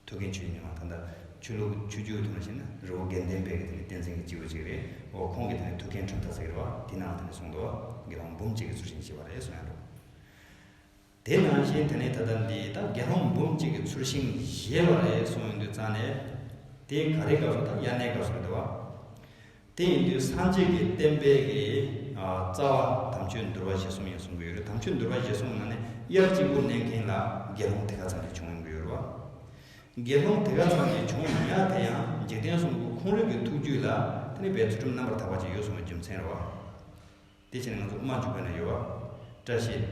ཐུགས་མཁྱེན་ཆོས་ཉིད་མ་ད་ལྟ་ཆོས་ལུགས་ཆོས་བརྒྱུད་དུ་མ་ཞིག་ན་རི་བོ་དགེ་ལྡན་པའི་གི་དེ་ནས་བསྟན་འཛིན་གྱི་སྤྱི་བོ་གཅིག་རེད་འོ་ཁོང་གིས་དེ་ནས་ཐུགས་མཁྱེན་ཁྲོན་ཐ་ཟེར་གྱི་རེད་བ་དེ་ནའང་དེ་འདྲ་གསུངས་འདུག་དགེ་སློང་འབུམ་གཅིག་གི་ཚུར་ཤིང་ཞེས་པ་རེད་གསུངས་ཡོད་འདུག། དེ་ནང་བཞིན་དེ་ནས་ད་ལྟ་འདི་ད་དགེ་སློང་འབུམ་གཅིག་གི་ཚུར་ཤིང་བཞེས་པ་རེད་གསུངས་ཡིན་དུས་རྩ་ནས། དེ་ག་རེ་སྐབས་སུ་དང་དབྱར་གནས་སྐབས་སུ་འདི་བ། དེ་ཡིན་དུས་སངས་རྒྱས་ཀྱི་བསྟན་པའི་གི་རྩ་བ་དམ་ཆོས་འདུལ་བ་བཞེས་གསུངས་ཡིན་གསུངས་གི་ཡོད་རེད་དམ་ཆོས་འདུལ་བ་བཞེས་གསུངས་ན་ནི་དབྱར་གཅིག་པུ་གནས་མཁན་ལ་དགེ་སློང་དེ་ག་ཙམ་གྱི་བྱུང་ཡོང་གི་ཡོད་རེད་བ། དགེ་སློང་དེ་ག་ཙམ་གྱི་བྱུང་མ་མྱངས་དེ་ཡང་འཇིག་རྟེན་གསུམ་གུ་ཁོང་རིགས་ཀྱི་ཐུགས་རྒྱུད་ལ་དེ་ནི་བའི་ཚུལ་ཁྲིམས་རྣམ་པར་དག་པ་ཅིག་ཡོད་གསུངས་པ་རྒྱུ་མཚན་རེད་བ། དེ་བཞིན་ང་ཚོ་དམར་མཆོད་བོད་ན་ཡོད་བ། བཀྲ་ཤིས།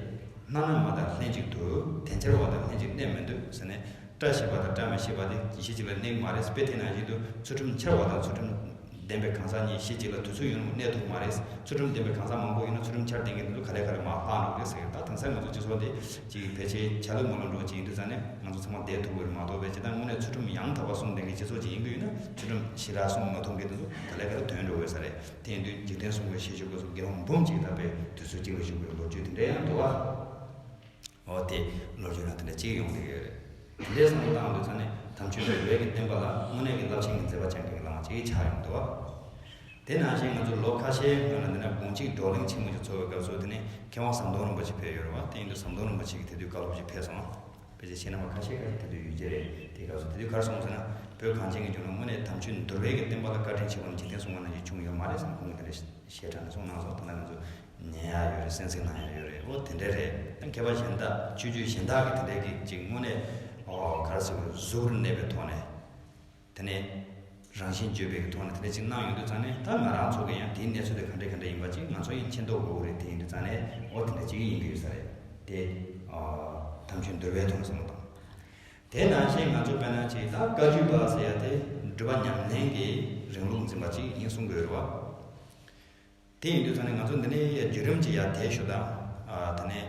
སྣ་ནག་མ་དང་ལྷན་ཅིག་ཏུ་དེ་འཆར་བ་དང་ལྷན་ཅིག་གནས་མི་འདོད་ཟེར་ནས་བཀྲ་ཤིས་པ་དང་བཀྲ་མི་ཤིས་པ་དེ་གཞི་གཅིག་ལ་གནས་ཀྱི་མ་རེད་དཔེ་དེ་ནང་བཞིན་དུ་ཚུལ་ཁྲིམས་འཆར་བ་དང་ཚུལ་ཁྲིམས་ལྡན་པའི་གང་ཟག་གཉིས་གཞི་གཅིག་ལ་དུས་ཚོད་ཡུན་རིང་པོ་གནས་ཐུབ་ཀྱི་མ་རེད་ཚུལ་ཁྲིམས་ལྡན་པའི་གང་ཟག་མང་པོ་ཡོད་ན་ཚུལ་ཁྲིམས་འཆར་ལྡན་གྱི་འདུག་ལུས་ག་ལེ་ག་ལེ་མ་ལྷག་འགྲོ་གི་རེད་ཟེར་གི་ད་དེང་སང་ང་ཚོའི་སྤྱི་ཚོགས་འདི་གཅིག་ཕལ་ཆེར་ཆ་ལུགས་མ་ལུགས་འགྲོ་གི་ཡིན་དུས་ཙང་ནས་ང་ཚོ་ཚང་མ་བསྡད་ཐུབ་ཀྱི་རེད་མ་གཏོགས་པའི་བྱེད་སྟངས་དངོས་གནས་ཚུལ་ཁྲིམས་ཡང་དག་པ་སྲུང་ལྡན་གྱི་སྤྱི་ཚོགས་ཅིག་ཡིན་གྱི་ཡོད་ན་ཚུལ་ཁྲིམས་ཞི་དྲག་སྲུང་མ་ཐུབ་མཁན་དེ་ཚོ་ག་ལེ་ག་ལེ་དོན་འགྲོ་གི་ཡོད་ས་རེད། དེང་དུས་འཇིག་རྟེན་སྲུང་བའི་ཤེས་བྱའི་གོས་སུ་རྒྱལ་དབང་འབུམ་གཅིག་བཏགས་པའི་དུས་ཚོད་གཅིག་ལ་བཞུགས་པའི་ལོ་རྒྱུས་དེ་འདྲའི་ཡང་འདུག་ཨ། འོ་དེ་ལོ་རྒྱུས་ནང་དེ་འདྲ་གཅིག་ཡོང་གི་ཡོད་རེད། དེ་འདྲའི་བསམ་བློ་བཏང་འདུག་ཚར་ནས་དམ་ཆོས་འདྲ་ཡོད་ཀྱི་སྟོན་པ་ལ་དངོས་གནས་ཀྱི་རླབས་ཆེན་གྱི་མཛད་པ་ཅན་གྱི་ལམ་བ་གཅིག་ཆགས་ཡོང་འདུག་ཨ། དེ་ནང་བཞིན་ང་ཚོ་ལོ་ཁ་ཤས་སྔོན་ལ་འདི་ན་དགུང་གཅིག་བགྲོ་གླེང་ཆེན་མོ་ཞིག་འཚོགས་པའི་སྐབས་སུ་དེ་ནས་མཁས་དབང་ཟམ་གདོང་རིན་པོ་ཆེ་ཕེབས་ཡོད་རེད་བ་དེ་ཡིན་དུས་ཟམ་གདོང་རིན་པོ་ཆེ་གི་དེ་དུས་བཀའ་སློབ་ཅིག་ཕེབས་སོང། ཕལ་ཆེར་ཕྱི་ནང་བ་ཁ་ཤས་ཀྱང་དེ་དུས་ཡོད་ཀྱི་རེད་དེ་སྐབས་སུ་དེ་དུས་གར་སོང་ཟེར་ན་བོད་གངས་ཅན་གྱི་ལྗོངས་ནང་དངོས་གནས་དམ་ཆོས་འདོར་བས་ཀྱི་བསྟན་པ་ལ་བཀའ་དྲིན་ཆེ་བ་ནི་འཇིག་རྟེན་སྲུང་བ་རྣམས་ཀྱིས་བྱུང་ཡོད་མ་རེད་བསམ་ཁོང་གི་དེ་འདྲ་ཞེ་དྲག་ནས་གསུངས་གནང་སོང་ད་ལྟ་ང་ཚོ་ཉན་ཡག་ཡོད་རེད་སེམས་ཚེགས་གནང་ཡག་ཡོད་རེད་འོ་དེ་འདྲ་རེད་ད་མཁས་པ་གཞན་དག་ཆོས་བརྒྱུད་གཞན་དག་གིས་དེ་འདྲའི་གི་ཅིག་དངོས་གནས་གར་སོང་གི་གཟུགས་རུ་གནས་པའི་ཐོག་ནས། དེ་ནས། རང་བཞིན་བརྗོད་པའི་ཐོག་ནས་དེ་འདྲ་ཅིག་གནང་ཡོང་དུས་ཙང་ནས་ད་ང་རང་ཚོ་གི་ཡང་དེའི་གནས་ཚུལ་དེ་ག་འདྲ་ག་འདྲ་ཡིན་པ་ཅིག་ང་ཚོ་ཡང་མཁྱེན་རྟོགས་དགོས་ཀྱི་རེད་དེ་ཡིན་དུས་ཙང་ནས་འོ་དེ་འདྲ་ཅིག་ཡིན་གྱི་ཡོད་ས་རེད་དེ། དམ་ཆོས་འདོད་པའི་ཐོག་ནས་བསམ་བློ་བཏང། དེས་ན་ཞེས་ང་ཚོས་བས་ན་ཅིག་ད་བཀའ་བརྒྱུད་པ་ཟེར་ཡ་དེ་འགྲུལ་པ་ཉམས་ལེན་གྱི་རིང་ལུགས་འཛིན་པ་ཅིག་ཡིན་གསུང་གི་ཡོད་རེད་བ། དེ་ཡིན་དུས་ད་ནི་ང་ཚོ་འདི་ནས་ཡ་བརྒྱུད་རིམ་གྱི་ཡ་དེའི་ཞོ་དང། ད་ནི་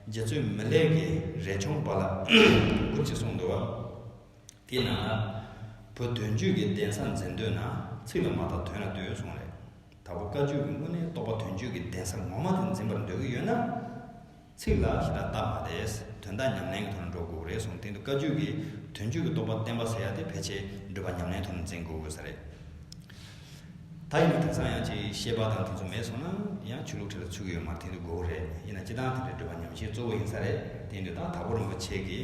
རྗེ་བཙུན་མི་ལེགས་ཀྱི་རས་ཆུང་པ་ལ་འུར་ཅིག་གསུངས་འདུག་བ། དེའི་ནང་ལ། བུ་དོན་བརྒྱུད་ཀྱི་གདན་ས་འཛིན་འདོད་ན་ཚིག་ལ་མ་དང་དོན་ལ་འདོད་གསུངས་རེད། ད་བུ་བཀའ་བརྒྱུད་ཀྱི་དངོས་གནས་རྟོགས་པ་དོན་བརྒྱུད་ཀྱི་གདན་ས་ངོ་མ་དེ་འཛིན་པར་འདོད་ཀྱི་ཡོད་ན། ཚིག་ལ་ཞེ་དྲག་བཏགས་པ་ལས་དོན་དག་ཉམས་ལེན་གྱི་ཐོག་ནས་འགྲོ་དགོས་རེད་གསུངས་སྟེང་དུ་བཀའ་བརྒྱུད་ཀྱི་དོན་བརྒྱུད་ཀྱི་རྟོགས་པ་བསྟན་པ་ཟེར་ཡག་དེ་ཕལ་ཆེར་འགྲུལ་པ་ཉམས་ལེན་ཐོག་ནས་འཛིན་དགོས་དགོས་ས་རེད། ད་ཡིན་ན་དེང་སང་ཡང་ཅིག་ཤེས་པ་དང་དེ་ཚོ་མེད་སོང་ན་ཡང་ཆོས་ལུགས་ཁྲི་ལ་ཆུ་གི་ཡོད་མར་དེང་དུ་དགོས་རེད་ཡིན་ན་སྤྱི་བཏང་དེ་འདྲའི་འགྲུལ་པ་ཉམས་བཞེས་གཙོ་བོ་ཡིན་ས་རེད་སྟེང་དུ་ད་དྭགས་པོ་རིན་པོ་ཆེ་གི་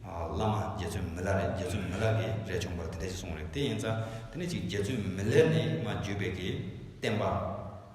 བླ་མ་རྗེ་བཙུན་མི་ལ་རེད་རྗེ་བཙུན་མི་ལ་གི་རེད་ཆུང་པར་དེ་འདྲ་ཅིག་གསུངས་རེད་དེ་ཡིན་ཙང་དེ་ནས་ཅིག་རྗེ་བཙུན་མི་ལས་ནི་མ་བརྒྱུད་པའི་གི་བསྟན་པ།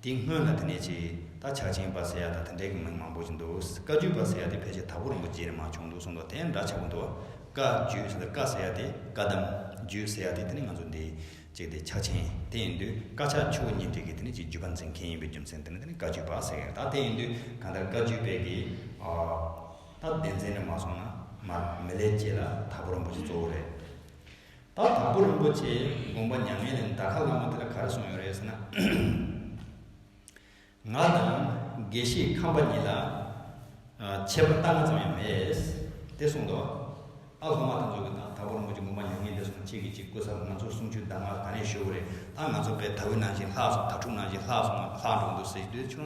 དེ་སྔོན་ལ་དེ་ནས་ཅིག་ད་ཆ་ཆིང་པ་ཟེར་ཡག་དང་དེ་འདྲའི་གི་མིང་མང་པོ་ཅིག་འདུག་བཀའ་རྒྱུད་པ་ཟེར་ཡག་དེ་ཕལ་ཆེར་དྭགས་པོ་རིན་པོ་རྗེ་ནས་མ་བྱུང་འདུག་གསུངས་འདུག་དེ་འདྲ་ཆེ་པོ་འདུག་བཀའ་རྒྱུད་ཟེར་ན་བཀའ་ཟེར་ཡག་དེ་བཀའ་གདམས་རྒྱུད་ཟེར་ཡག་དེ་དེ་ནི་ང་ཚོ་འདི་གཅིག་དེ་ཆ་ཆེན་དེ་ཡིན་དུས་བཀའ་ཕྱག་མཆོད་པོ་གཉིས་འདུས་ཀྱི་དེ་ནི་ཅིག་རྒྱུད་པ་འཛིན་མཁན་ཡིན་པའི་རྒྱུ་མཚན་དེ་ནི་དེ་ནི་བཀའ་རྒྱུད་པ་ཟེར་ཡག་ད་དེ་ཡིན་དུས་གང་ལྟར་བཀའ་རྒྱུད་པའི་གི་ད་བདེན་འཛིན་ནས་མ་སོང་ན་མ་མི་ལས་སྐྱེས་ལ་དྭགས་པོ་རིན་པོ་ཆེ་གཙོ་བོ་རེད། ད་དང་པོ་རིན་པོ་ཆེའི་དགོངས་པ་མྱ་ངན་ལས་འདའ་ཁ་བླ་མ་དེ་ལ་ག་རེ་གསུངས་ཡོད་རེད་ཟེར་ན། ང་དང་དགེ་བཤེས་ཁམས་པ་གཉིས་ལ་ཆད་པ་རྟགས་ང་ཙམ་ཡང་མེད། དེ་གསུངས་འདུག་ཨ་སློབ་མ་དང་ཚོགས་ཀྱིས་ད་དང་པོ་རིན་པོ་ཆེ་དགོངས་པ་མྱ་ངན་ལས་གསུངས་གཅིག་གིས་གཅིག་བསྐུལ་ས་ལ་ང་ཚོར་གསུང་ཆོས་གདམས་ངག་ག་ནས་ཤོད་རེད་ཨ་ང་ཚོ་པས་ད་འུ་ནང་བཞིན་ལྷག་སོང་ད་ཕྲུག་ནང་བཞིན་ལྷག་སོང་ང་ལྷག་འགྲོ་འདུག་ཟེར་གྱི་དུས་ཆུང